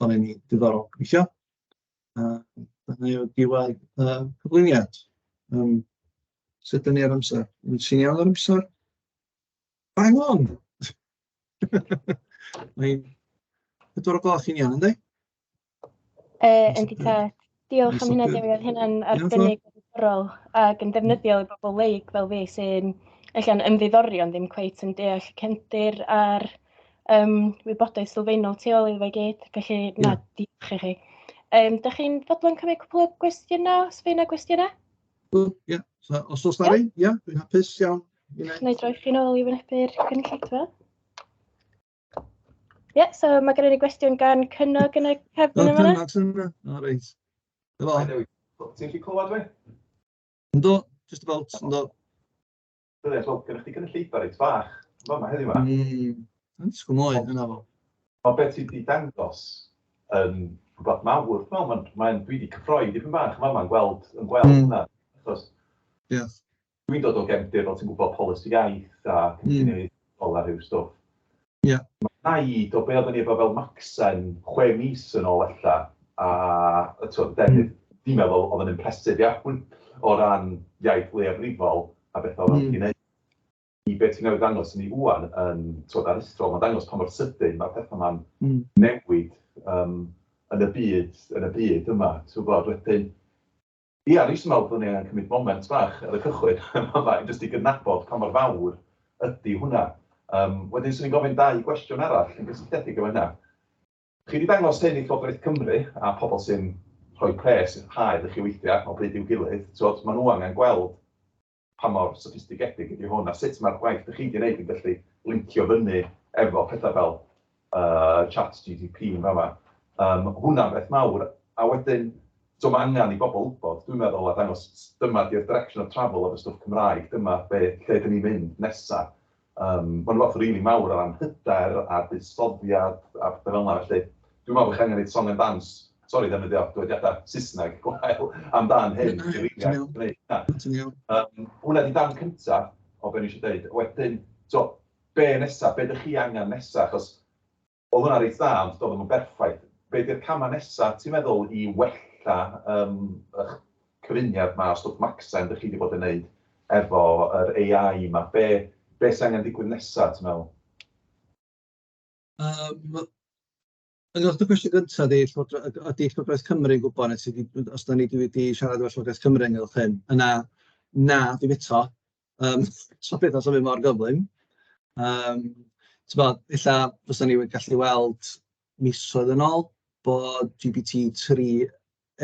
o be ma' diddorol gweithio. A dyna yw diwadd y cyflwyniad. Yym, sut 'dyn ni ar amser? Wyt ti'n iawn ar amser? Bang on! Mae'n pedwar o gloch i'n iawn, yndi? Yy, yndi tad. Diolch am hynna, Dewi. Oedd hynna'n arbennig o ddiddorol ac yn defnyddiol i bobl leig fel fi sy'n ella'n ymddiddori ond ddim cweit yn deall y cefndir a'r um, wybodaeth sylfaenol tu ôl iddo fe gyd, felly yeah. na, diolch i chi. Um, da chi'n fodlon cymryd cwpl o gwestiynau, os fe yna gwestiynau? Ie, yeah. so, os oes da rhaid, ie, dwi'n hapus iawn. Neu droi chi'n ôl i wynebu'r cynulleidfa. Ie, yeah, so mae gen i gwestiwn gan Cynnog yn y cefn yma. Cynnog sy'n yna, o reit. Ti'n chi clywed fi? Ynddo, just about, ynddo. Brilliant, wel, gyda chdi gynulleidfa reit fach, fel yma heddiw yma. Mm, yn disgwyl mwy, yna fo. Mae beth sydd wedi dangos yn rhywbeth mawr, wel, mae'n, mae dwi wedi cyffroi dipyn bach, mae yma'n gweld, yn gweld mm. hwnna, achos yes. dwi'n dod o gefndir, fel ti'n gwybod, polisi iaith a cynllunio mm. a rhyw stwff. Ie. Mae i do be oedden ni efo fel Macsen chwe mis yn ôl ella a t'wod defnydd fi'n meddwl oedd yn impressive iawn o ran iaith leiafrifol a beth oedden nhw'n gallu neud. I be ti newydd ddangos i ni ŵan yn t'wod aruthrol mae'n dangos pa mor sydyn mae'r pethau ma'n newid yym yn y byd yn y byd yma ti'n gwbod wedyn Ia, o'n i jyst yn meddwl byddwn i angen cymryd moment bach ar y cychwyn yn fama i jyst i gydnabod pa mor fawr ydy hwnna. Yym, wedyn 'swn i'n gofyn dau gwestiwn arall yn gysylltiedig efo hynna. Chi 'di dangos hyn i Llywodraeth Cymru a pobl sy'n rhoi pres i'r haul i chi weithio o bryd i'w gilydd, t'wod, ma' nhw angen gweld pa mor soffistigedig ydy hwn a sut mae'r gwaith dych chi wedi wneud yn gallu lincio fyny efo pethau fel uh, chat GDP yn fama. Um, hwnna'n beth mawr, a wedyn, so mae angen i bobl wybod, dwi'n meddwl, a dangos dyma di'r direction of travel of y stwff Cymraeg, dyma be, lle dyn ni'n mynd nesaf. Mae 'na fath rili mawr o ran hyder a buddsoddiad a pethe fel 'na, felly dwi'n meddwl bod chi angen neud song and dance, sori ddefnyddio dywediadau Saesneg gwael, amdan hyn i rili allu gneud hynna. Na, ti'n iawn. Yym, hwnna 'di darn cynta o be' o'n i isio deud. Wedyn, t'wo', be' nesa? Be' 'dych chi angen nesa? Achos Odd hwnna reit dda ond do'dd o'm yn berffaith. Be di'r cama nesa ti'n meddwl i wella yym y'ch cyfuniad ma o stwff Macsen dych chi di bod yn neud efo yr AI ma? Be be sy angen digwydd nesa ti'n meddwl? Yym yn ôl dy gwestiwn gynta di llywodraeth yd- ydi llywodraeth Cymru'n gwbod neu sy di os dan ni di wedi siarad efo llywodraeth Cymru ynghylch hyn yna na dim eto Yym so pethau sy'n mynd mor gyflym. Yym timod, ella fysen ni wedi gallu weld misoedd yn ôl bod GPT tri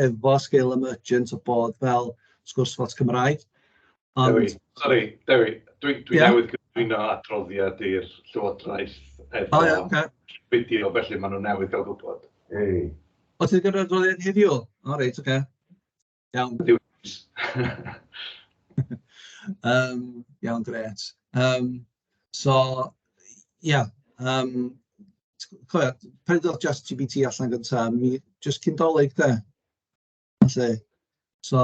efo sgil emergent o bod fel sgwrs bots Cymraeg, ond... Dewi, sori, Dewi, dwi dwi newydd gyflwyno adroddiad i'r Llywodraeth efo... O ia, ocê. ...fideo, felly maen nhw newydd gael gwybod. O ti 'di cael yr adroddiad heddiw? O reit, ocê. Iawn. um, iawn, gret. Um, so, ie, yeah, um, cofio, pan ddodd just GPT allan gyntaf, mi just cyn dolyg de. Felly, so,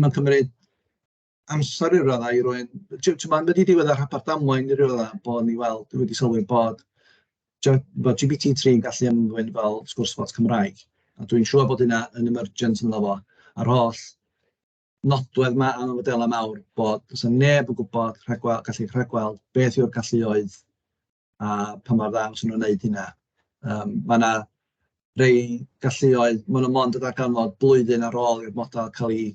mae'n cymryd amser i ryw raddau i rywun... Ti'n ti'n gwybod, wedi diwedd y rhaglen damwain i ryw raddau, bo' ni weld, dwi wedi sylwi bod j- bod GPT tri'n gallu ymddwyn fel sgwrs bots Cymraeg, a dwi'n siŵr bod hynna yn emergent ynddo fo, a'r holl nodwedd 'ma am y modelau mawr, bod does 'na neb yn gwybod rhagweld gallu rhagweld beth yw'r galluoedd a pa mor dda maen nhw'n wneud hynna. Um, mae yna rei galluoedd, maen nhw mond yn ddarganfod blwyddyn ar ôl i'r model cael ei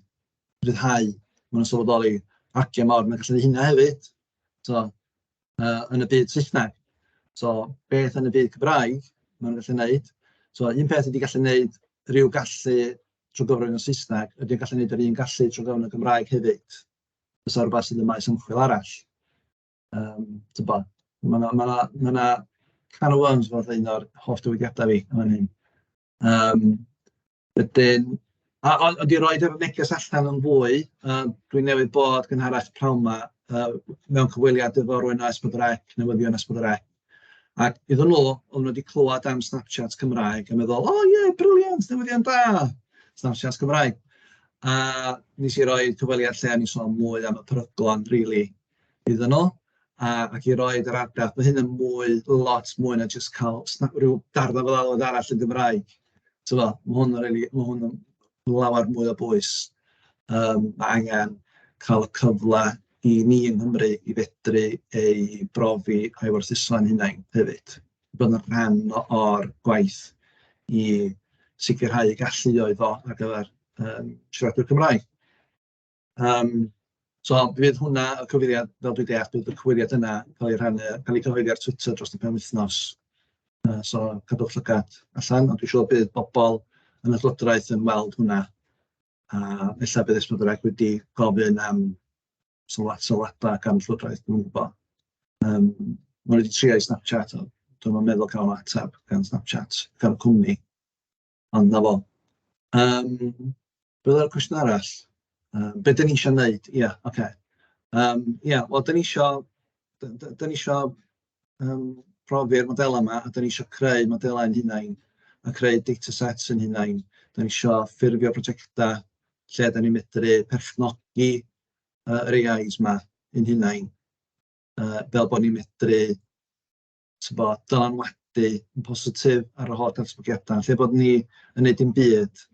rhyddhau. Maen nhw'n sylweddoli argiau mawr, mae'n gallu hynna hefyd so, uh, yn y byd Saesneg. So, beth yn y byd Cymraeg maen nhw'n gallu gwneud. So, un peth ydy gallu gwneud rhyw gallu trwy gyfrwng y Saesneg, ydy'n gallu gwneud yr un gallu trwy gyfrwng y Gymraeg hefyd. Fysa rhywbeth sydd yn maes ymchwil arall. Yym tibod ma' 'na ma' 'na ma' 'na can o worms fatha un o'r hoff dywediadau fi yn fan hyn. Yym wedyn a ond ond i roid yr neges allan yn fwy yym dwi newydd bod yn gynharach prynhawn 'ma yy mewn cyfweliad efo rywun o S4C, newyddion S4C, ac iddyn nhw o'n nhw 'di clywed am SnapChat Cymraeg a meddwl "o ie briliant, newyddion da, SnapChat Cymraeg". A wnes i roi cyfweliad lle o'n i'n sôn mwy am y peryglon rili iddyn nhw a, ac i roi yr argraff, mae hyn yn mwy, lot mwy na jyst cael rhyw darna fel alwad arall yn Gymraeg. Tyfo, mae hwn yn really, mae hwn yn lawer mwy o bwys. Um, mae angen cael y cyfle i ni yng Nghymru i fedru ei brofi a'i werthuso'n hunain hefyd. Bydd yn rhan o'r gwaith i sicrhau galluoedd o ar gyfer um, siaradwyr Cymraeg. Yym so bydd hwnna, y cyfeiriad, fel dwi'n deall, bydd y cyfeiriad yna yn cael ei rhannu, cael ei cyhoeddi ar Twitter dros y penwythnos, yy so cadwch llygad allan, ond dwi'n siŵr bydd bobl yn y llywodraeth yn weld hwnna, a ella bydd Esmed Wrecsam wedi gofyn am sylwad- sylwadau gan y llywodraeth, dwi'm yn gwybod. Yym maen nhw 'di trio i Snapchat ond dwi'm yn meddwl cael nhw ateb gan Snapchat, gan y cwmni. Ond 'na fo. Yym, be oedd y cwestiwn arall? Yym, be dan ni isio wneud? Ia, ocê. Yym, ia, wel dan ni isio d- d- dan ni isio yym profi'r modelau 'ma, a dan ni isio creu modelau ein hunain a creu datasets ein hunain. Dan ni isio ffurfio prosiectau lle dan ni'n medru perchnogi yy yr AIs 'ma ein hunain, yy fel bod ni'n medru... tibod, dylanwadu yn positif ar yr holl ddatblygiadau, lle bod ni yn neud dim byd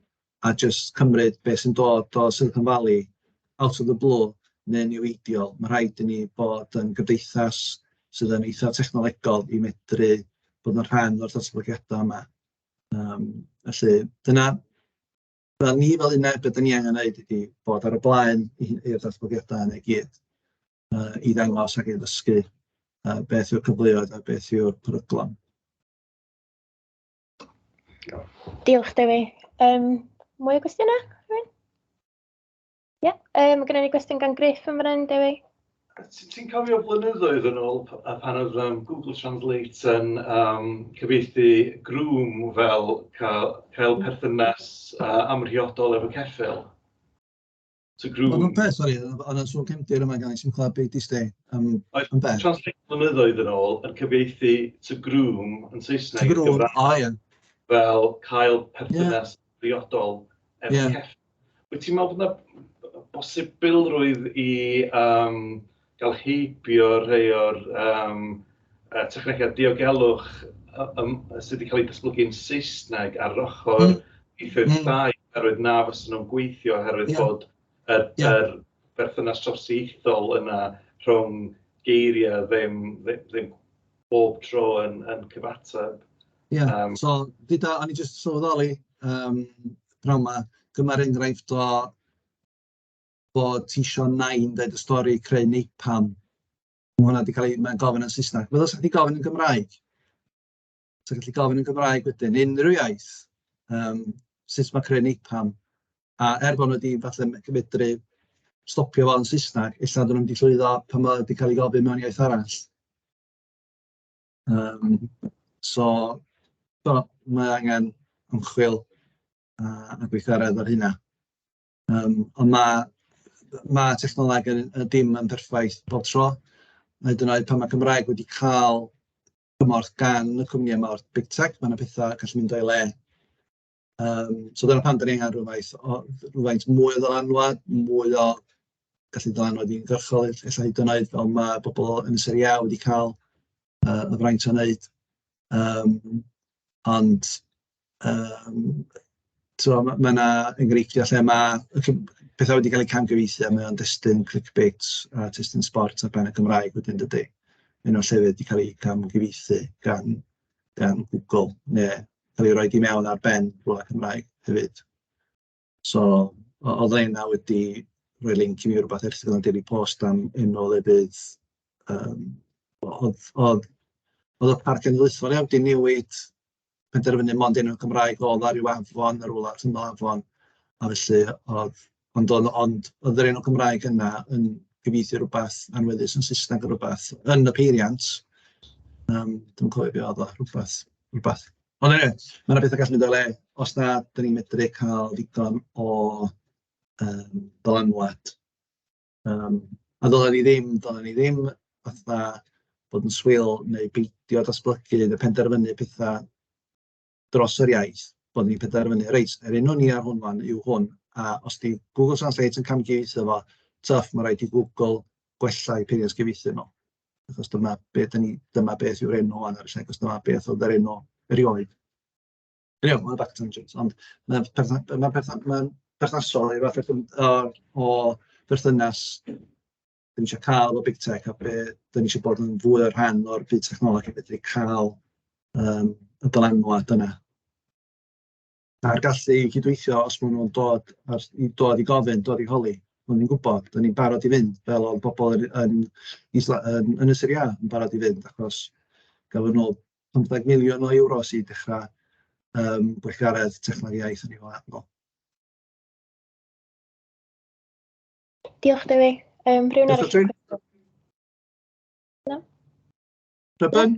a jyst cymryd beth sy'n dod o Silicon Valley out of the blue neu'n niweidiol. Mae rhaid i ni bod yn gymdeithas sydd yn eitha technolegol i medru bod yn rhan o'r datblygiadau yma. Yym felly dyna... fel ni fel uned, be dan ni angen wneud ydy bod ar y blaen i'r datblygiadau yna i gyd. yy i ddangos ac i ddysgu yy beth yw'r cyfleoedd a beth yw'r peryglon. Diolch Dewi. Um, mwy o gwestiynau? Ie, yeah. um, gyda ni gwestiwn gan Griff yn fan Dewi. Ti'n cofio blynyddoedd yn ôl pan oedd um, Google Translate yn um, cyfeithi grŵm fel cael, cael perthynas uh, amrhiodol efo ceffil? to groom. Mae'n peth, sori, ond yn sôn cymdir yma gan sy'n clywed beth i stê am, am beth. Translate blynyddoedd yn ôl yn cyfeithi to groom yn Saesneg. To groom, o oh, ie. Fel cael perthynas yeah. briodol efo yeah. cefn. Wyt ti'n meddwl bod yna bosibilrwydd i um, Gall heibio rhai o'r yym yy technegau diogelwch yym sy 'di cael eu datblygu yn Saesneg ar ochr ieithoedd llai oherwydd na fysa nhw'n gweithio oherwydd bod yr yr berthynas trawsieithol yna rhwng geiriau ddim ddim bob tro yn yn cyfateb... Ie, so gyda... o'n i jyst yn sylweddoli yym pnawn 'ma, dyma'r enghraifft o... bod ti isio nain dweud y stori creu napalm. Mae hwnna wedi cael ei... mae'n gofyn yn Saesneg. Fel os wedi gofyn yn Gymraeg. So gallu gofyn yn Gymraeg wedyn, unrhyw iaith, um, sut mae creu napalm. A er bod nhw wedi falle medru stopio fo yn Saesneg, illa dyn nhw'n wedi llwyddo pan mae wedi cael ei gofyn mewn iaith arall. Um, so, do, mae angen ymchwil a, a gweithgaredd ar hynna. Yym ond ma' ma' technoleg yn yn dim yn berffaith bob tro, hyd yn oed pan ma' Cymraeg wedi cael cymorth gan y cwmnïau 'ma o'r big tech, ma' 'na petha gallu mynd o'i le. Yym so dyna pam dan ni angen rywfaint o rywfaint mwy o ddylanwad, mwy o gallu dylanwad uniongyrchol ell- ella hyd yn oed, fel ma' pobl yn y Serie A wedi cael yy y fraint o wneud yym ond... Yym tibod ma' ma' 'na enghreifftiau lle ma' ll- pethau wedi cael eu camgyfeithu a mae o'n destun clickbait a testun sbort ar ben y Gymraeg wedyn dydi? Un o'r llefydd wedi cael eu camgyfeithu gan gan Google neu cael ei roid i mewn ar ben rywle Cymraeg hefyd. So o- oedd rheina wedi rhoi linc i mi i rywbeth erthygl yn Daily Post am enw o lefydd yym o- oedd oedd oedd y Parc Cenedlaethol ia wedi newid penderfynu mond enw Cymraeg oedd o ar ryw afon yn rywle allan o afon a felly oedd ond oedd ond oedd yr enw Cymraeg yna yn cyfieithu rywbeth anweddus yn Saesneg neu rywbeth yn y peiriant yym dwi'm yn cofio be oedd o rywbeth rywbeth... Ond eniwe, ma' 'na betha gallu mynd o'i le, os na, dan ni'n medru cael digon o yym dylanwad, yym, a ddylen ni ddim ddylen ni ddim fatha bod yn swil neu beidio datblygu neu penderfynu petha dros yr iaith, bod ni'n penderfynu reit, yr enw ni ar hwn ŵan yw hwn, a os 'di Google Translate yn camdieitho fo, twff, ma' raid i Google gwella'i peiriant cyfieithu nhw. achos dyma be dan ni... dyma beth yw'r enw ar y lle, achos dyma beth oedd yr enw erioed. Eniwe, hwnna bach yn tangent, ond ma'n perthyn- ma'n perthyn- ma'n perthnasol i fatha cwm- o o berthynas dan ni isio cael efo Big Tech a be dan ni isio bod yn fwy o rhan o'r byd technoleg a fedru cael yym y dylanwad yna. a'r gallu i gydweithio os maen nhw'n dod a'r... i dod i gofyn, dod i holi, bod ni'n gwybod, bod ni'n barod i fynd, fel oedd pobl yn yn Isla- yn Ynysodd Iâ yn barod i fynd, achos gafon nhw 15 miliwn o euros i dechrau yym gweithgaredd Technoleg Iaith yn eu wlad nhw. Diolch Dewi. Yym rhywun arall? Catrin? Na? Rhyben?